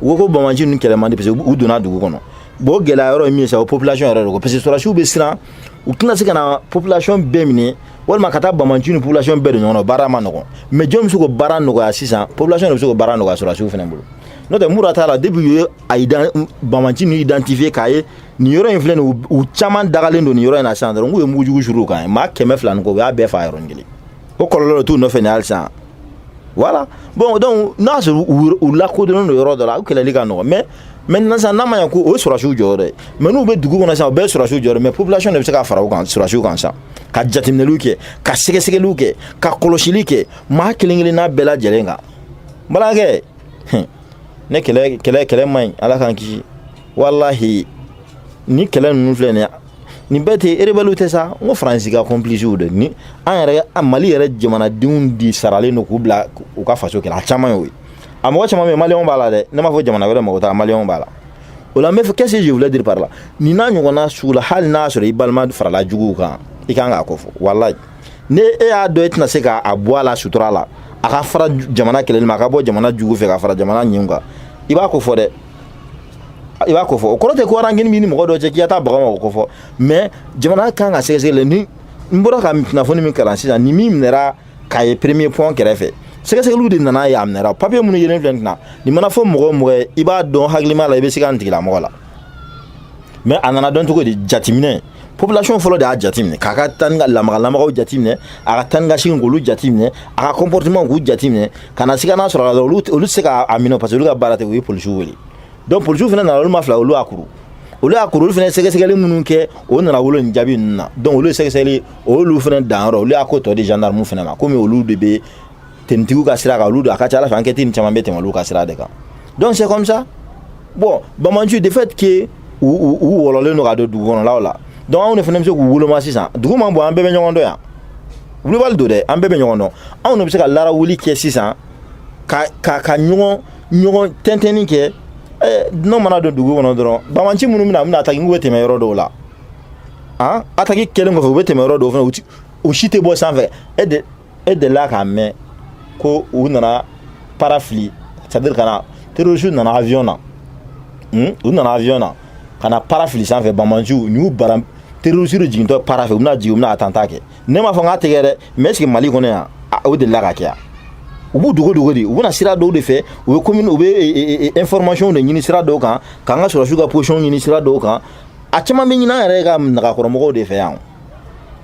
u ko ko bamanci ninnu kɛlɛ man di parce que u donna dugu kɔnɔ bon o gɛlɛya yɔrɔ ye min ye sa o population yɛrɛ de ko parce que sɔrɔdasiw bɛ siran u tɛna se ka na population bɛɛ minɛ walima ka taa bamanci ni population bɛɛ don ɲɔgɔn na baara man nɔgɔn mais jɔn bɛ se k'o baara nɔgɔya sisan population de bɛ se k'o baara nɔgɔya sɔrɔdasiw fana bolo n'o tɛ fura t'a la depuis u ye a bamanci ninnu identifier k'a ye nin yɔrɔ in filɛ nin u caman dagalen don nin yɔrɔ in na sisan dɔrɔn k'u ye mugujugu suuru u kan maa kɛmɛ fila ni kɔ u y'a bɛɛ fa yɔrɔnin kelen o kɔlɔlɔ t'u nɔfɛ ni halisa voilà bon donc n'a sɔrɔ u lakodɔnnen don yɔrɔ dɔ la u kɛlɛli ka nɔgɔn mais mais sisan n'a ma ɲɛ ko o ye sɔrɔsiw jɔyɔrɔ dɛ mais n'u bɛ dugu kɔnɔ sisan u bɛɛ ye sɔrɔsiw jɔyɔrɔ mais population de bɛ se ka fara u kan sɔrɔsiw kan sisan ka jateminɛliw kɛ ka sɛgɛsɛgɛliw kɛ ka kɔlɔsili kɛ maa kelen kelen n'a bɛɛ lajɛlen kan balimakɛ ne kɛlɛ kɛlɛ kɛlɛ man ɲi ala k'an kisi walahi ni kɛlɛ ninnu filɛ nin ye nin bɛɛ tɛ rebellew tɛ sa n ko faransi ka complicew de ni an yɛrɛ an mali yɛrɛ jamanadenw de saralen don k'u bila u ka faso kɛlɛ a caman y'o ye a mɔgɔ caman bɛ maliyɛnw b'a la dɛ ne m'a fɔ jamana wɛrɛ mɔgɔ t'a maliyɛnw b'a la o la n bɛ fɔ qu'est-ce que je voulais dire par là nin n'a ɲɔgɔnna sugu la hali n'a sɔrɔ i balima farala juguw kan i kan k'a kofɔ walayi ni e y'a dɔn e tɛna se k'a bɔ a la sutura la a ka fara jamana kɛlɛli ma a ka bɔ jamana jugu fɛ ka fara jamana ɲinw kan i b'a ko fɔ dɛ i b'a ko fɔ o kɔrɔ tɛ ko rancune min ni mɔgɔ dɔ cɛ k'i ka taa baga a ma o ko fɔ mais jamana kan ka sɛgɛsɛgɛli ni n bɔra ka kunnafoni min kalan sisan ni min minɛra k'a ye premier pont kɛrɛfɛ sɛgɛsɛgɛliw de nana ye a minɛra papiye minnu yelen filɛ nin na nin mana fɔ mɔgɔ o mɔgɔ ye i b'a dɔn hakilima la i bɛ se ka nin tigilamɔgɔ la mais a nana dɔn cogo di jateminɛ population fɔlɔ de y'a jateminɛ k'a ka taa ni ka lamaga lamagaw jateminɛ a ka taa ni ka segin k'olu jateminɛ a ka comportement k'u jateminɛ ka na siga n'a sɔrɔ la olu olu tɛ se ka a minɛ parce que olu ka baara tɛ u ye polisiw wele donc polisiw fana nana olu maa fila olu y'a kuru olu y'a kuru olu fana sɛgɛsɛgɛli minnu kɛ o nana wolo nin jaabi ninnu na donc olu ye sɛgɛsɛgɛli olu fana danyɔrɔ olu y'a ko tɔ di gendarme fana ma komi olu de bɛ tɛmɛtigiw ka sira kan olu don a ka ca ala fɛ enquête nin caman bɛ tɛmɛ olu ka sira de kan donc c'est comme ça bon bamanciw le fait que u u u wɔlɔlen don ka don dugu kɔnɔlaw la donc anw de fana bɛ se k'u woloma sisan dugu man bon an bɛɛ bɛ ɲɔgɔn dɔn yan wulibali don dɛ an bɛɛ bɛ ɲɔgɔn dɔn anw de bɛ se ka lara wuli kɛ sisan ka ka ka ɲɔgɔn ɲɔgɔn tɛntɛnni kɛ eh, n'o mana don dugu kɔnɔ dɔrɔn bamanci minnu bɛna bɛna ataki n'u bɛ tɛmɛ yɔrɔ dɔw la an ataki kɛlen kɔfɛ u bɛ tɛmɛ yɔrɔ dɔw fana u si tɛ bɔ sanfɛ e de e delila k'a mɛn ko u nana para fili c'est à dire ka na terroriste nana avion na hmm? u nana avion na ka na para fili sanfɛ bamanci u y'u bara terroriste jigintɔ para fɛ u bɛna jigin u bɛna attentat kɛ ne m'a fɔ n k'a tɛ kɛ dɛ mais est-ce que mali kɔnɔ yan o delila ka kɛ yan u b'u dogo dogo de u bɛna sira dɔw de fɛ u bɛ commune u bɛ information de ɲini sira dɔw kan k'an ka sɔrɔdasiw ka position ɲini sira dɔw kan a caman bɛ ɲini an yɛrɛ ka nagakɔrɔmɔgɔw de fɛ yan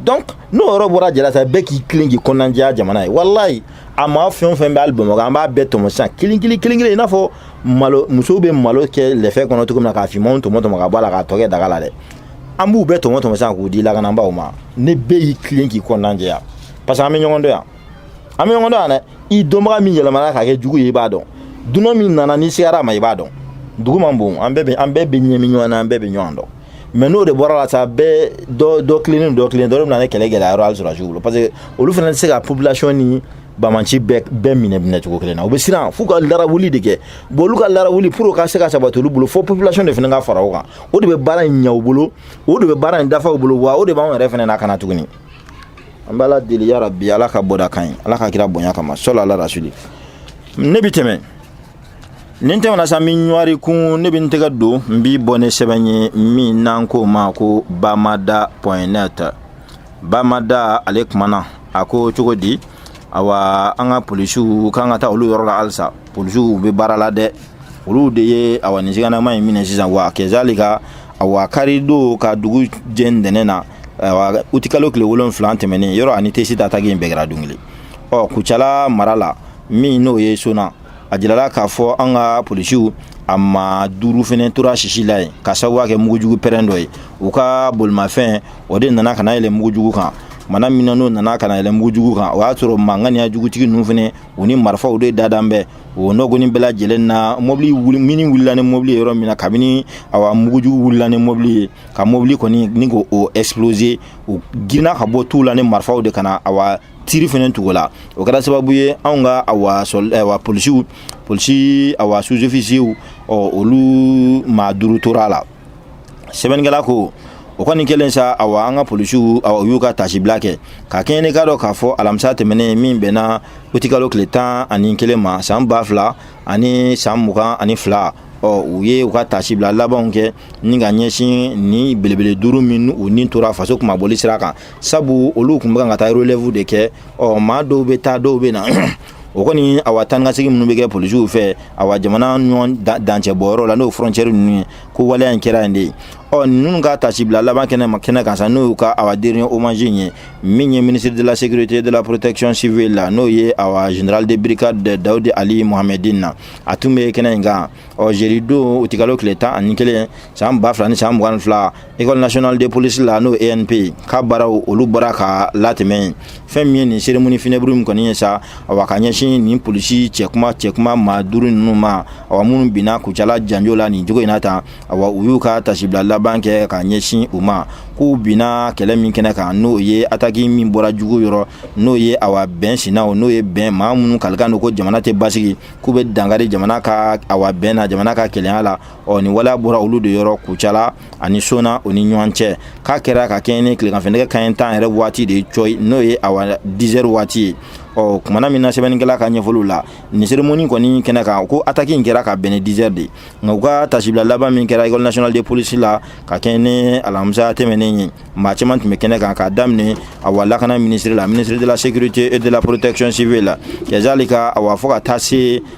donc n'o yɔrɔ bɔra a la sa bɛɛ k'i tilen k'i kɔnɔna jɛya jamana ye walayi a maa fɛn o fɛn bɛ hali bamakɔ an b'a bɛɛ tɔmɔ sisan kelen kelen kelen kelen i n'a fɔ malo musow bɛ malo kɛ lɛfɛ kɔnɔ cogo min na k'a finmanw tɔmɔ tɔmɔ ka bɔ a la k'a tɔ kɛ daga la dɛ an b'u bɛɛ tɔmɔ tɔmɔ sisan k'u di lakananbaaw ma ni bɛɛ y'i tilen k'i kɔnɔna jɛya parce que an bɛ ɲɔgɔn dɔn yan an bɛ ɲɔgɔn dɔn yan dɛ i dɔnbaga min yɛlɛmana ka kɛ jugu ye i b'a dɔn dunan min nana n'i sigara a ma i b'a dɔn dugu man bon an bɛɛ bɛ an bɛɛ bɛ ɲaami ɲɔgɔn na an bɛɛ bɛ ɲɔgɔn dɔn mais n'o de bɔra a la sa bɛɛ dɔ dɔ tilennen dɔ tilennen dɔ de bɛna nin kɛlɛ gɛlɛya yɔrɔ hali sɔrɔdasiw bolo parce que olu fana tɛ se ka population ni banbaanci bɛɛ bɛɛ minɛ minɛ cogo kelen na u bɛ siran f'u ka larawuli de kɛ bon olu ka larawuli pour u ka se ka sabati olu bolo fo population de fana ka fara o kan o de bɛ baara in ɲɛ u bolo o de bɛ baara in dafa u bolo wa o de b'anw yɛrɛ fana lakana tuguni an b'ala deli yarabi ala ka bɔda kan ye ala ka kira bonya kama salu ala rasuli ne bɛ tɛmɛ nin tɛmɛna sa min ɲɔri kun ne bɛ n tɛgɛ don n bɛ bɔ ni sɛbɛn ye min n'an k'o ma ko bamada point net bamada ale kumana a ko cogo di awa an ka polisiw k'an ka taa olu yɔrɔ la halisa polisiw bɛ baara la dɛ olu de ye awa nin siganamaa in minɛ sisan wa kɛzali ka awa kari don ka dugu jɛ ntɛnɛn na awa utikalo tile wolonfila tɛmɛnen yɔrɔ ani tesiti ataki in bɛɛ kɛra don kelen ɔ kucala mara la min n'o ye sona a jirala k'a fɔ an ka polisiw a maa duuru fɛnɛ tora sisi la yen ka sababuya kɛ mugujugu pɛrɛn dɔ ye u ka bolimafɛn o de nana ka na yɛlɛ mugujugu kan mana min na n'o nana ka na yɛlɛ mugujugu kan o y'a sɔrɔ maa ŋaniyajugutigi ninnu fɛnɛ u ni marifaw de dalen bɛ o nɔgɔnin bɛɛ lajɛlen na mobili mini wulila ni mobili ye yɔrɔ min na kabini awa mugujugu wulila ni mobili ye ka mobili kɔni ni ko o explose u girinna ka bɔ tu la ni marifaw de ka na awa tiri fɛnɛ tugu o la o kɛra sababu ye anw ka awa awa polisiw polisi awa sous-officiers ɔ olu maa duuru tora la sɛbɛnnikɛla ko o kɔni kɛlen sa awa an ka polisiw awa u y'u ka tasibila kɛ ka kɛɲɛ ni k'a dɔn k'a fɔ alamisa tɛmɛnen min bɛnna utikalo tile tan ani kelen ma san ba fila ani san mugan ani fila ɔ u ye u ka tasibila labanw kɛ ni ka ɲɛsin nin belebele duuru minnu ni tora faso kunmabɔli sira kan sabu olu tun bɛ kan ka taa relɛvu de kɛ ɔ maa dɔw bɛ taa dɔw bɛ na o kɔni awa taakasegin minnu bɛ kɛ polisiw fɛ awa jamana ɲɔgɔn dancɛ bɔyɔrɔ la n'o frontiɛri ninnu ye ko waleya in kɛra yen de ɔ ninnu ka tasibila laban kɛnɛ ma kɛnɛ kan sa n'o y'u ka awa dernier hommage in ye min ye ministre de la sécurité de la protection civile la n'o ye awa général de brigade dawudi ali mohamedin na a tun bɛ kɛnɛ in kan ɔ jeudi don utikalo tile tan ani kelen san ba fila ni san mugan ni fila école nationale de police la n'o ENP ka baaraw olu bɔra ka latɛmɛ yen fɛn min ye nin cérémonie funèbre in kɔni ye sa awa ka ɲɛsin nin polisi cɛkuma cɛkuma maa duuru ninnu ma awa minnu binna kucala janjo la nin cogo in na tan awa u y'u ka tasibila laban kɛ ka ɲɛsin u ma k'u binna kɛlɛ min kɛnɛ kan n'o ye ataki min bɔra jugu yɔrɔ n'o ye awa bɛn sinaw n'o ye bɛn maa minnu kalilen don ko jamana tɛ basigi k'u bɛ dankari jamana ka awa bɛn na jamana ka kelenya la ɔ nin waleya bɔra olu de yɔrɔ kucala ani sona o ni ɲɔgɔn cɛ k'a kɛra ka kɛɲɛ ni tilegan fɛ nɛgɛ kanɲɛ tan yɛrɛ waati de ye cɔyi n'o ye awa dizɛri waati ye ɔ kumana min na sɛbɛnnikɛla ka ɲɛfɔliw la nin seremoni kɔni kɛnɛ kan ko ataki in kɛra ka bɛn ni dizɛri de nka u ka tasibila laban min kɛra école nationale de police la ka kɛɲɛ ni alamisa tɛmɛnen ye maa caman tun bɛ kɛnɛ kan k'a daminɛ awa lakana minisiri la ministre de la sécurité et de la protection civile la kɛzalika awa fɔ ka taa se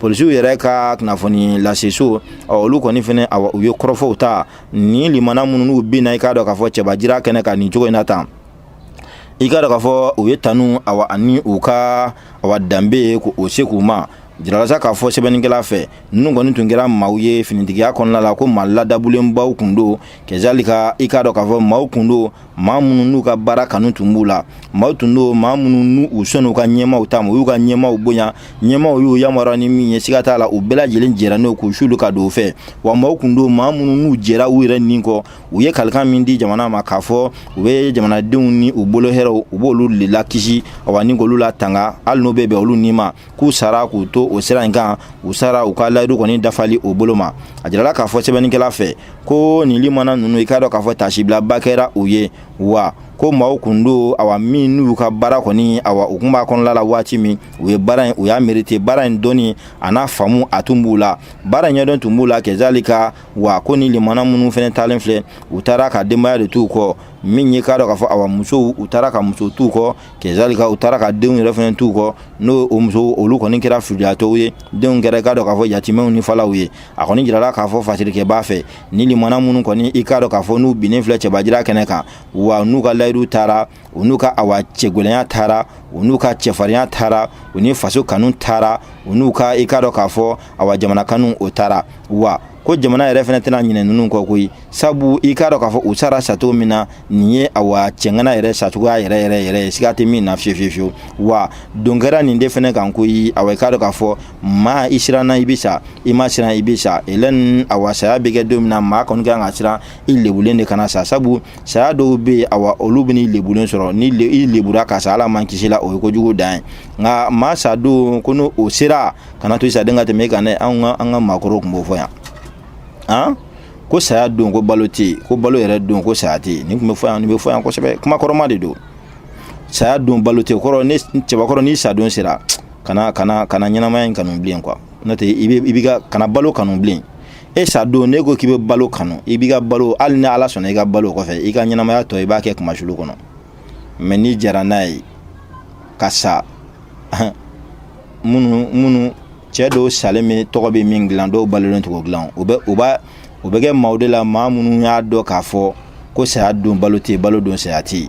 polisiw yɛrɛ ka kunnafoni laseso olu kɔni fɛnɛ awa u ye kɔrɔfɔw ta ni limana minnu n'u binna i k'a dɔn k'a fɔ cɛbajira kɛnɛ kan nin cogo in na tan i k'a dɔn k'a fɔ u y'u tanu awa ani u ka awa danbe ye k'o segin u ma jirala sa k'a fɔ sɛbɛnnikɛla fɛ ninnu kɔni tun kɛra maaw ye finitigiya kɔnɔna la ko maa ladabulenbaw kun don kɛzalika i k'a dɔn k'a fɔ maaw kun don maa minnu n'u ka baara kanu tun b'u la maaw tun don maa minnu n'u u sɔn'u ka ɲɛmaaw ta ma u y'u ka ɲɛmaaw bonya ɲɛmaaw y'u yamaruya ni min ye siga t'a la u bɛɛ lajɛlen jɛra n'o k'u sulu ka don o fɛ wa maaw tun don maa minnu n'u jɛra u yɛrɛ ni kɔ u ye kalikan min di jamana ma k'a fɔ u bɛ jamanadenw ni u bolo hɛrɛw u b'olu le lakisi awa ni k'olu latanga hali n'o bɛ bɛn olu ni ma k'u sara k'u to o sira in kan u sara u ka layidu kɔni dafali o bolo ma a jirala k'a fɔ sɛbɛnnikɛla fɛ ko nin limana ninnu i k'a dɔn k'a fɔ tasibilaba kɛra u ye wa ko maaw kun don awa min n'u ka baara kɔni awa u kun b'a kɔnɔla la waati min u ye baara in u y'a merite baara in dɔnni an'a faamu a tun b'u la baara ɲɛdɔn tun b'u la kɛzalika wa ko ni limana minnu fɛnɛ taalen filɛ u taara ka denbaya de t'u kɔ min ye k'a dɔn k'a fɔ awa musow u taara ka muso t'u kɔ kɛzalika u taara ka denw yɛrɛ fɛnɛ t'u kɔ n'o o muso olu kɔni kɛra filiyatɔw ye denw kɛra i k'a dɔn k'a fɔ yatimɛw ni falaw ye a kɔni jirala k'a fɔ fasirikɛbaa fɛ ni limana minnu kɔni i k'a dɔn k'a fɔ n'u binnen filɛ cɛbajira kɛnɛ kan wa n'u ka layidu taara u n'u ka awa cɛgwɛlɛnya taara u n'u ka cɛfarinya taara u ni faso kanu taara u n'u ka i k'a dɔn k'a fɔ awa jamana kanu o taara wa ko jamana yɛrɛ fɛnɛ tɛna ɲinɛ ninnu kɔ koyi sabu i k'a dɔn k'a fɔ u sara sacogo min na nin ye awa cɛŋana yɛrɛ sacogoya yɛrɛ yɛrɛ yɛrɛ ye siga tɛ min na fiye fiye fiyewu wa don kɛra nin de fɛnɛ kan ko i awa i k'a dɔn k'a fɔ maa i siranna i bɛ sa i ma siran i bɛ sa elɛn awa saya bɛ kɛ don min na maa kɔni kan ka siran i lebulen de kana sa sabu saya dɔw bɛ yen awa olu bɛ n'i lebulen sɔrɔ ni i lebura ka sa ala m'an kisi la o ye kojugu dan ye nka maa sa don ko n'o o sera kana to i sadon ka tɛmɛ i kan dɛ anw ka an ka maakɔrɔw tun b'o fɔ yan an ko saya don ko balo tɛ yen ko balo yɛrɛ don ko saya tɛ yen nin tun bɛ fɔ yan nin bɛ fɔ yan kosɛbɛ kuma kɔrɔma de don saya don balo tɛ kɔrɔ ne cɛbakɔrɔ ni sadon sera kana kana kana ɲɛnamaya in kanu bilen quoi n'o tɛ i bɛ i b'i ka kana balo kanu bilen e sadon ne ko k'i bɛ balo kanu i b'i ka balo hali ni ala sɔnna i ka balo kɔfɛ i ka ɲɛnamaya tɔ i b'a kɛ kunmasuli kɔnɔ mais n'i jara n'a ye ka sa minnu minnu cɛɛ dɔw salen min tɔgɔ bɛ min dilan dɔw balolen t'o dilan u bɛ u b'a u bɛ kɛ maaw de la maa minnu y'a dɔn k'a fɔ ko saya don balo tɛ balo don saya tɛ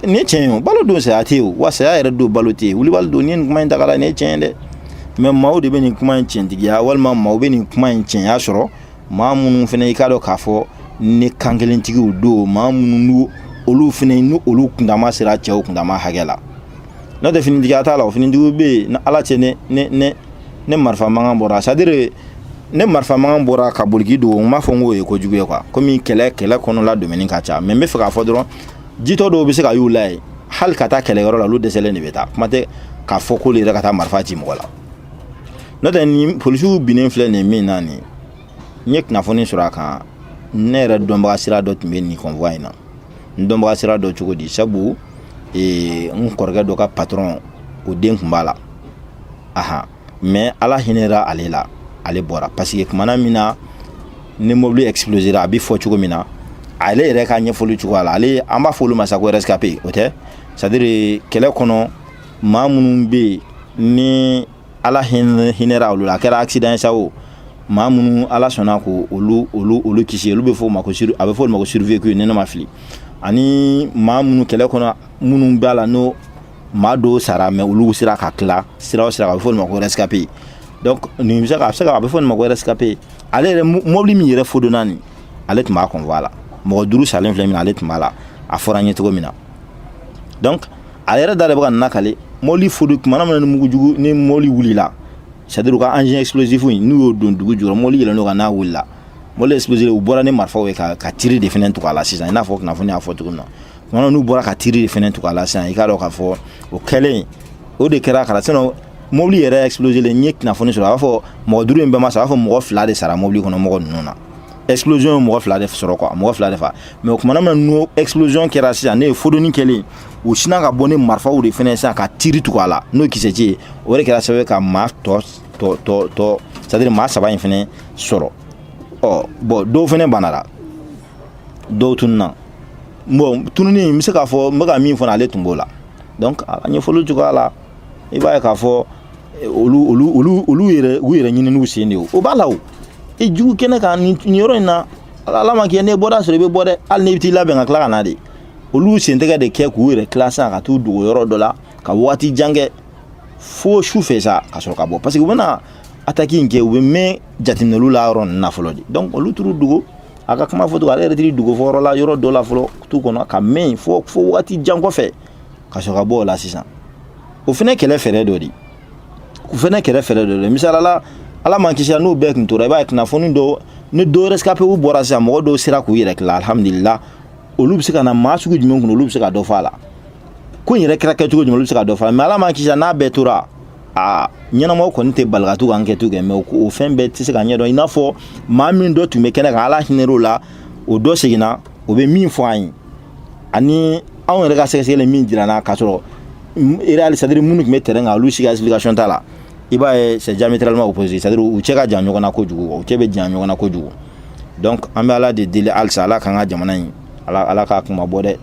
ni tiɲɛ ye balo don saya tɛ wa saya yɛrɛ don balo tɛ wulibali don ni nin kuma in ta la nin ye tiɲɛ ye dɛ mais maaw de bɛ nin kuma in tiɲɛtigiya walima maaw bɛ nin kuma in tiɲɛya sɔrɔ maa minnu fana i k'a dɔn k'a fɔ ni kan kelentigiw don maa minnu olu fana ni olu kundama sera cɛw kundama hakɛ la n'o tɛ finitigi t'a la o finitigiw bɛ yen ni ala cɛ ni ni ni ni marifa mankan bɔra c'est à dire ni marifa mankan bɔra ka boli k'i dogo n m'a fɔ n k'o ye kojugu ye quoi komi kɛlɛ kɛlɛ kɔnɔla domɛni ka ca mais n bɛ fɛ k'a fɔ dɔrɔn jitɔ dɔw bɛ se ka ye u la yen hali ka taa kɛlɛyɔrɔ la olu dɛsɛlen de bɛ taa kuma tɛ k'a fɔ k'olu yɛrɛ ka taa marifa ci mɔgɔ la n'o tɛ nin polisiw binnen filɛ nin ye min na nin n ye kunnafoni sɔrɔ a kan ne yɛrɛ dɔnbaga sira dɔ tun bɛ nin convoi in na n dɔnbaga sira dɔ cogo di sabu ee, n kɔrɔkɛ dɔ ka patɔrɔn o den tun b'a la aha mais ala hinɛra ale la ale bɔra parce que kumana min na ni mobili explosera a bɛ fɔ cogo min na ale yɛrɛ ka ɲɛfɔli cogoya la ale an b'a fɔ olu ma sa ko rescapé o tɛ c'est à dire kɛlɛ kɔnɔ maa minnu bɛ yen ni ala hinɛ hinɛra olu la a kɛra accident ye sa o maa minnu ala sɔnna ko olu olu olu kisi olu bɛ fɔ o ma ko a bɛ fɔ olu ma ko survécu ni ne ma fili ani maa minnu kɛlɛ kɔnɔ minnu b'a la n'o maa dɔw sara mais olu sera ka tila sira o sira a bɛ fɔ olu ma ko rescapé donc nin bɛ se ka a bɛ se ka a bɛ fɔ nin ma ko rescapé ale yɛrɛ mɔbili min yɛrɛ fodonna nin ale tun b'a convoi la mɔgɔ duuru salen filɛ min na ale tun b'a la a fɔra an ye cogo min na donc a yɛrɛ da de bɛ ka nin lakali mɔbili fodi kumana min na ni mugujugu ni mɔbili wulila c'est ka engin explosif in n'u y'o don dugu jukɔrɔ mɔbili yɛlɛn n'o kan n'a wulila mɔbili explosif u bɔra ni marifaw ye ka ka tiri de fɛnɛ tugu a la sisan i n'a fɔ kunnafoni y'a fɔ cogo min na kumana n'u bɔra ka tiri de fɛnɛ tugu a la sisan i k'a dɔn k'a fɔ o kɛlen o de kɛra kala sinon mɔbili yɛrɛ explosé len n ye kunnafoni sɔrɔ a b'a fɔ mɔgɔ duuru in bɛɛ ma sa a b'a fɔ mɔgɔ fila de sara mɔbili kɔnɔ mɔgɔ ninnu na explosion ye mɔgɔ fila de sɔrɔ quoi mɔgɔ fila de fa mais o kumana min n'o explosion kɛra sisan n'o ye fodoni kɛlen u sina ka bɔ ni marifaw de fɛnɛ sisan ka tiri tugu a la n'o kisɛci ye o de kɛra sababu ka maa tɔ tɔ tɔ tɔ c'est à dire maa saba in fɛnɛ sɔrɔ ɔ bon dɔw fɛnɛ banara dɔw tununa bon tununi n bɛ se k'a fɔ n bɛ ka min fɔ ale tun b'o la donc a ɲɛfɔli cogoya la i b'a ye k'a fɔ olu olu olu olu yɛrɛ u yɛrɛ ɲininiw sen de ye o b'a la o i jugu kɛnɛ kan nin yɔrɔ in na ala m'a kɛ n'i bɔda sɔrɔ i bɛ bɔ dɛ hali n'i bɛ t'i labɛn ka tila ka na de olu sen tɛgɛ de kɛ k'u yɛrɛ tila sisan ka t'u dogo yɔrɔ dɔ la ka waati jan kɛ fo su fɛ sa ka sɔrɔ ka bɔ parce que u bɛna ataki in kɛ u bɛ mɛn jateminɛliw la yɔrɔ ninnu na fɔlɔ de donc olu taar'u dogo a ka kuma fɔ cogo ale yɛrɛ t'i dogo fɔ yɔrɔ la yɔrɔ dɔ la fɔlɔ tu kɔnɔ ka mɛn fo fo waati jan kɔfɛ ka sɔrɔ ka bɔ o la sisan o fana kɛlɛ fɛɛrɛ dɔ de o fana kɛlɛ fɛɛrɛ dɔ de misali la ala m'an kisi n'u bɛɛ tun tora i b'a ye kunnafoni dɔw ni dɔ rescapew bɔra sisan mɔgɔ dɔw sera k'u yɛrɛ tila alhamdulila olu bɛ se ka na maa sugu jumɛn kun olu bɛ se ka dɔ fɔ a la ko in yɛrɛ kɛra kɛcogo jumɛn olu bɛ se ka dɔ fɔ a la mais ala m'an kisi n'a bɛɛ tora a ɲɛnamaw kɔni tɛ bali ka to ka ankɛtiw kɛ mais o fɛn bɛɛ tɛ se k'a ɲɛdɔn i n'a fɔ maa min dɔ tun bɛ kɛnɛ kan ala hinɛr'o la o dɔ seginna o bɛ min fɔ an ye ani anw yɛrɛ ka sɛgɛsɛgɛli min jir'an na k'a sɔrɔ réel c'est à dire minnu tun bɛ terrain kan olu si ka explication t'a la i b'a ye c'est diamétralement opposé c'est à dire u cɛ ka jan ɲɔgɔn na kojugu u cɛ bɛ jan ɲɔgɔn na kojugu donc an bɛ ala de deli halisa ala k'an ka jamana in ala ala k'a kunmabɔ dɛ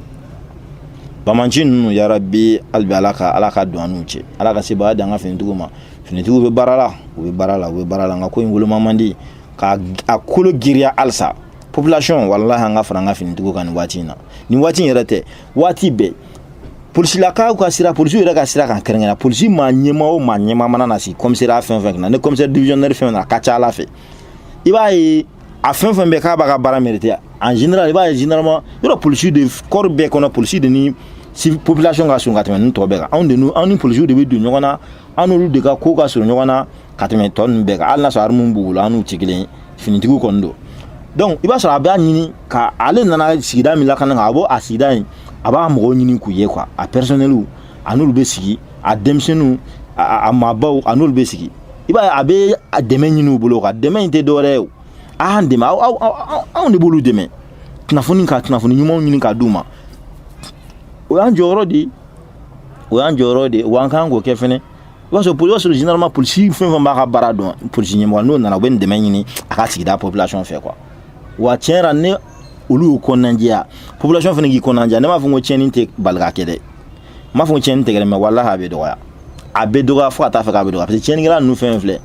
banbaanci ninnu yarabi halibi ala ka ala ka don an n'u cɛ ala ka sebaaya di an ka finitigiw ma finitigiw bɛ baara la u bɛ baara la u bɛ baara la nka ko in woloma man di ka a kolo giriya halisa population walahi an ka fara an ka finitigiw kan nin waati in na nin waati in yɛrɛ tɛ waati bɛɛ polisilakaw ka sira polisiw yɛrɛ ka sira kan kɛrɛnkɛrɛn polisi maa ɲɛmaa o maa ɲɛmaa mana na sigi kɔmisɛriya fɛn fɛn na ni kɔmisɛri divisionnaire fɛn na a ka ca a la fɛ i b'a ye a fɛn fɛn bɛ k'a b'a ka baara mérite en général i b'a ye généralement yɔrɔ polisiw de corps bɛɛ kɔnɔ polisi de ni population ka surun ka tɛmɛ ni tɔ bɛɛ kan anw de anw ni polisiw de bɛ don ɲɔgɔn na an n'olu de ka ko ka surun ɲɔgɔn na ka tɛmɛ tɔ ninnu bɛɛ kan hali n'a sɔrɔ arimu b'u bolo an n'u tɛ kelen ye finitigiw kɔni don donc i b'a sɔrɔ a b'a ɲini k'ale nana sigida min lakana kan a b'o a sigida in a b'a mɔgɔw ɲini k'u ye quoi a personneliw a n'olu bɛ sigi a denmisɛnninw a maabaw a n'olu bɛ sigi i b'a ye a bɛ a dɛmɛ ɲini u bolo ka dɛmɛ in tɛ dɔwɛrɛ ye o a y'an dɛmɛ aw aw aw anw de b'olu dɛmɛ kunnafoni ka kunnafoni ɲumanw ɲini ka d'u ma o y'an jɔyɔrɔ de ye o y'an jɔyɔrɔ de ye wa an kan k'o kɛ fɛnɛ i b'a sɔrɔ i b'a sɔrɔ généralement polisi fɛn fɛn b'a ka baara dɔn polisi ɲɛmɔgɔ n'o nana u bɛ nin dɛmɛ ɲini a ka sigida population fɛ quoi wa tiɲɛ yɛrɛ n'olu y'u kɔnɔnajɛya population fɛnɛ k'i kɔnɔnajɛya ne m'a fɔ ko tiɲɛni tɛ bali ka kɛ dɛ n m'a fɔ ko tiɲɛni tɛ kɛ dɛ mais walahi a bɛ dɔgɔya a bɛ dɔgɔya fo ka taa a fɛ k'a bɛ dɔgɔya parce que tiɲɛnikɛla ninnu fɛn fɛn filɛ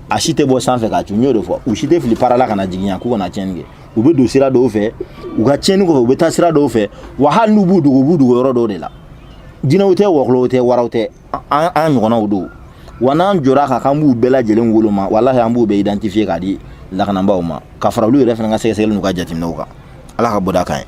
a si tɛ bɔ sanfɛ ka cun n y'o de fɔ u si tɛ fili para la ka na jigin yan k'u ka na tiɲɛni kɛ u bɛ don sira dɔw fɛ u ka tiɲɛni kɔfɛ u bɛ taa sira dɔw fɛ wa hali n'u b'u dogo u b'u dogo yɔrɔ dɔw de la jinɛw tɛ wɔkɔlɔw tɛ waraw tɛ an an ɲɔgɔnnaw don wa n'an jɔra a kan k'an b'u bɛɛ lajɛlen woloma walahi an b'u bɛɛ identifier k'a di lakanabaaw ma ka fara olu yɛrɛ fana ka sɛgɛsɛgɛli n'u ka jateminɛw kan ala ka bɔda k'an ye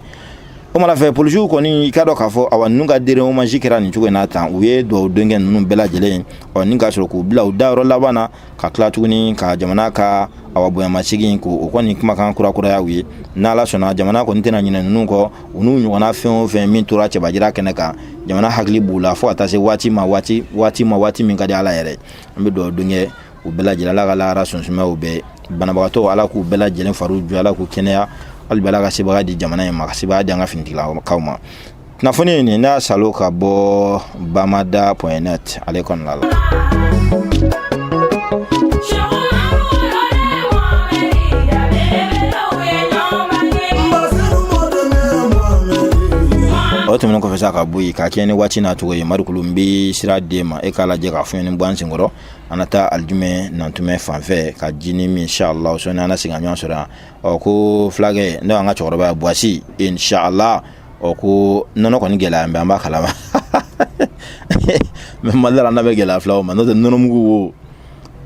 o mana fɛ polisiw kɔni i k'a dɔn k'a fɔ awa ninnu ka dernier hommage kɛra nin cogo in na tan u ye duwawu don kɛ ninnu bɛɛ lajɛlen ɔ ni k'a sɔrɔ k'u bila u dayɔrɔ laban na ka tila tuguni ka jamana ka awa bonyamasegin ko o kɔni kumakan kurakuraya u ye n'ala sɔnna jamana kɔni tɛna ɲinɛ ninnu kɔ u n'u ɲɔgɔnna fɛn o fɛn min tora cɛbajira kɛnɛ kan jamana hakili b'u la fɔɔ ka taa se waati ma waati waati ma waati min ka di ala yɛrɛ an bɛ duwawu don kɛ u bɛɛ lajɛlen ala ka lahara so suma u bɛɛ banabagatɔ ala k'u bɛɛ lajɛlen fariw jɔ ala k'u kɛnɛya hali bi ala ka sebagaya di jamana in ma ka sebagaya di an ka finitigilakaw ma kunnafoni in nin n y'a sɔrɔ ka bɔ bamada point net ale kɔnɔna la o tɛmɛnen kɔfɛ sa ka bɔ yen ka kɛɲɛ ni waati n'a cogo ye marikulu n bɛ sira d'e ma e k'a lajɛ ka fiɲɛnin bɔ an senkɔrɔ an na taa alijumɛ nantumɛ fanfɛ ka jinin min inshallah sɔɔni an na segin ka ɲɔgɔn sɔrɔ yan ɔ ko fulakɛ n'o y'an ka cɛkɔrɔba ye buwasi inshallah ɔ ko nɔnɔ kɔni gɛlɛya bɛ an b'a kalama mais mali la n'a bɛ gɛlɛya filaw ma n'o tɛ nɔnɔmugu wo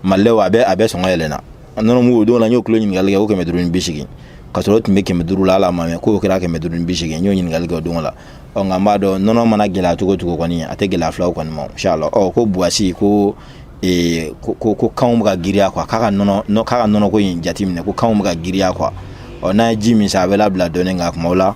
mali la a bɛ a bɛɛ sɔngɔ yɛlɛnna nɔnɔmugu o don la n y'o kilo ɲininkali kɛ o kɛmɛ duuru ni bi seegin ka sɔrɔ o tun bɛ kɛmɛ duuru la ala ma mɛ k'o kɛra kɛmɛ duuru ni bi seegin n y'o ɲininkali kɛ o don la ɔ nka n b'a dɔn nɔnɔ mana gɛlɛya cogo cogo kɔni a tɛ gɛlɛya filaw kɔni ma inshallah ɔ ko buwasi ko ee ko ko ko kanw bɛ ka giriya quoi k'a ka nɔnɔ k'a ka nɔnɔko in jateminɛ ko kanw bɛ ka giriya quoi ɔ n'a ye ji min sa a bɛ labila dɔɔni a ka kumaw la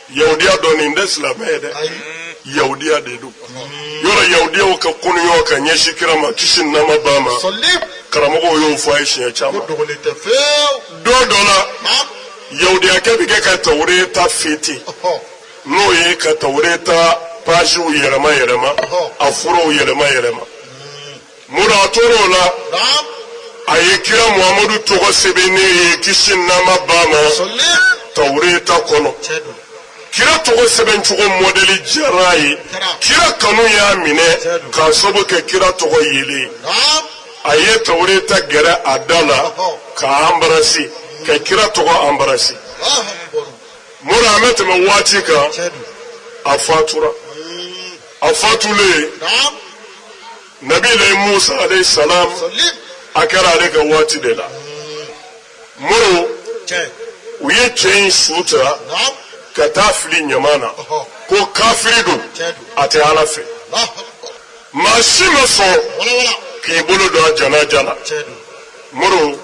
Yahudiya dɔ nin tɛ silamɛ ye dɛ. Yahudiya de don. Mori Yahudiyaw ka koniya ka ɲɛsin kira ma kisi ni nɛɛma b'a ma. Karamɔgɔw y'o fɔ a ye siɲɛ caman. Don dɔ la. Yahudiyakɛ bɛ kɛ ka Tawureta feuilleter. N'o ye ka Tawureta pages yɛlɛma yɛlɛma. A furaw yɛlɛma yɛlɛma. Mori a tor'o la Naam. a ye kira muhamadu tɔgɔ sɛbɛnnen ye kisi ni nɛɛma b'a ma Salli. tawureta kɔnɔ Tiɲɛ don. kira tɔgɔ sɛbɛn cogo mɔdɛli diyara a ye kira kanu y'a minɛ k'a sabu kɛ kira tɔgɔ yelen ye Naam. a ye tawureta gɛrɛ a da la k'a embrasser ka kira tɔgɔ embrasser Allahu akbar. mori an bɛ tɛmɛ waati kan Tiɲɛ don. a fatura a fatulen nabilayi musa alayhi salam a kɛra ale ka waati de la mori u ye cɛ in su ta ka taa fili ɲaman na ko kafiri don a tɛ ala fɛ maa si ma sɔn k'i bolo don a janaja la mɔgɔ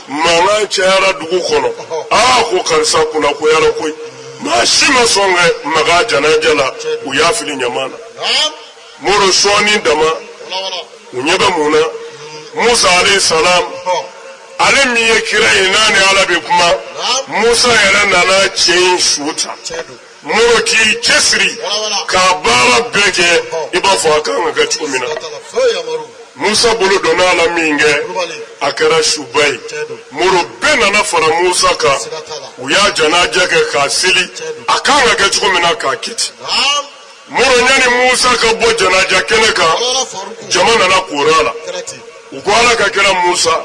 mankan cayara dugu kɔnɔ aa ko karisa kunnagoyara koyi maa si ma sɔn ka maga janaja la u y'a fili ɲama na mɔgɔ sɔɔni dama u ɲɛ bɛ mun na hmm. musa alayhi salam ale min ye kira ye n'a ni ala bɛ kuma musa yɛrɛ nana cɛ in su ta mɔgɔ k'i cɛsiri k'a baara bɛɛ kɛ i b'a fɔ a kan ka kɛ cogo min na musa bolo donna a la min kɛ a kɛra su ba ye mɔgɔ bɛɛ nana fara musa kan u y'a janaja kɛ k'a seli a kan ka kɛ cogo min na k'a kiti mɔgɔ yani musa ka bɔ janaja kɛnɛ kan jama nana koori a la u ko ala ka kira musa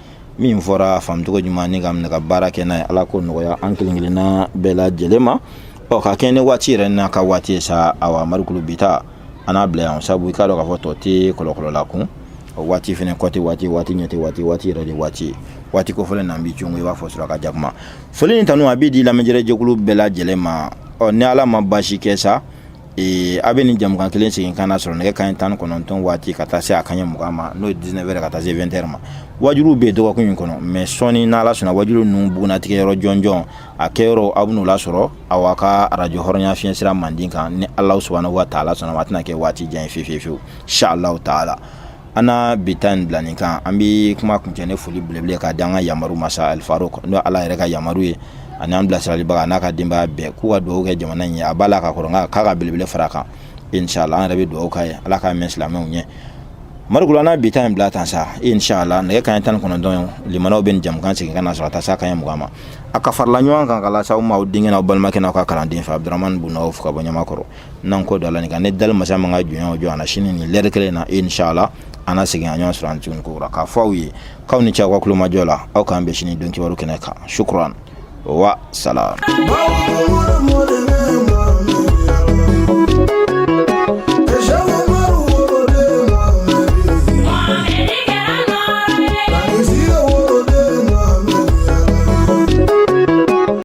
min fɔra a faamucogo ɲuman ni k'a minɛ ka baara kɛ n'a ye ala k'o nɔgɔya an kelen kelenna bɛɛ lajɛlen ma ɔ ka kɛɲɛ ni waati yɛrɛ n'a ka waati ye sa awa marikulu bi ta an n'a bila yan sabu i k'a dɔn k'a fɔ tɔ tɛ kɔlɔkɔlɔla kun o waati fɛnɛ kɔti waati waati ɲɛti waati waati yɛrɛ de waati ye waati kofɔlen na bi congo i b'a fɔ suraka jakuma foli ni tanu a bɛ di lamɛnni jɛkulu bɛɛ lajɛlen ma ɔ ni ala ma baasi kɛ sa Ee a bɛ nin jamukan kelen segin ka na sɔrɔ nɛgɛ kanɲɛ tan ni kɔnɔntɔn waati ka taa se a kanɲɛ mugan ma n'o ye dix-neuf heures ka taa se vingt heures ma waju bɛ dɔgɔkun in kɔnɔ mais sɔɔni n' ala sɔnna waju ninnu bugunnatigɛ yɔrɔ jɔnjɔn a kɛ yɔrɔ aw n'o lasɔrɔ aw ka arajo hɔrɔnya fiɲɛ sira mandi kan ni ala subhanahu wa taala sɔnna a tɛna kɛ waati jan ye fewufewu inshallahu taala an na bi ta in bila nin kan an bɛ kuma kuncɛ ni foli belebele k'a di an ka yamaru ma sa alifaro n'o ala yɛrɛ ka yamaru ye ani an bilasiralibaga n'a ka denbaya bɛɛ k'u ka dugawu kɛ jamana in ye a b'a la ka kɔrɔ nka k'a ka belebele fara a kan inshallah an yɛrɛ bɛ dugawu k'a ye ala k'a mɛn silamɛw ɲɛ marikula n'a bi ta in bila tan sa inshallah nɛgɛ kanɲɛ tan ni kɔnɔntɔn min na aw bɛ nin jamukan segin ka na sɔrɔ ka taa se a kanɲɛ mugan ma a ka farala ɲɔgɔn kan k'a lase aw ma aw denkɛ n'aw balimakɛ n'aw ka kalanden fɛ abudramani bunawufu ka bɔ ɲamakɔrɔ n'an ko dɔ la nin kan ni dali masa ma an ka jɔnya o jɔ an na sini nin lɛri kelen na inshallah an na segin ka ɲɔgɔn sɔrɔ yan tuguni kokura k'a fɔ aw ye k'aw ni ce aw ka tulomajɔ la aw k'an bɛn sini don kibaru kɛnɛ kan sukuran wa salam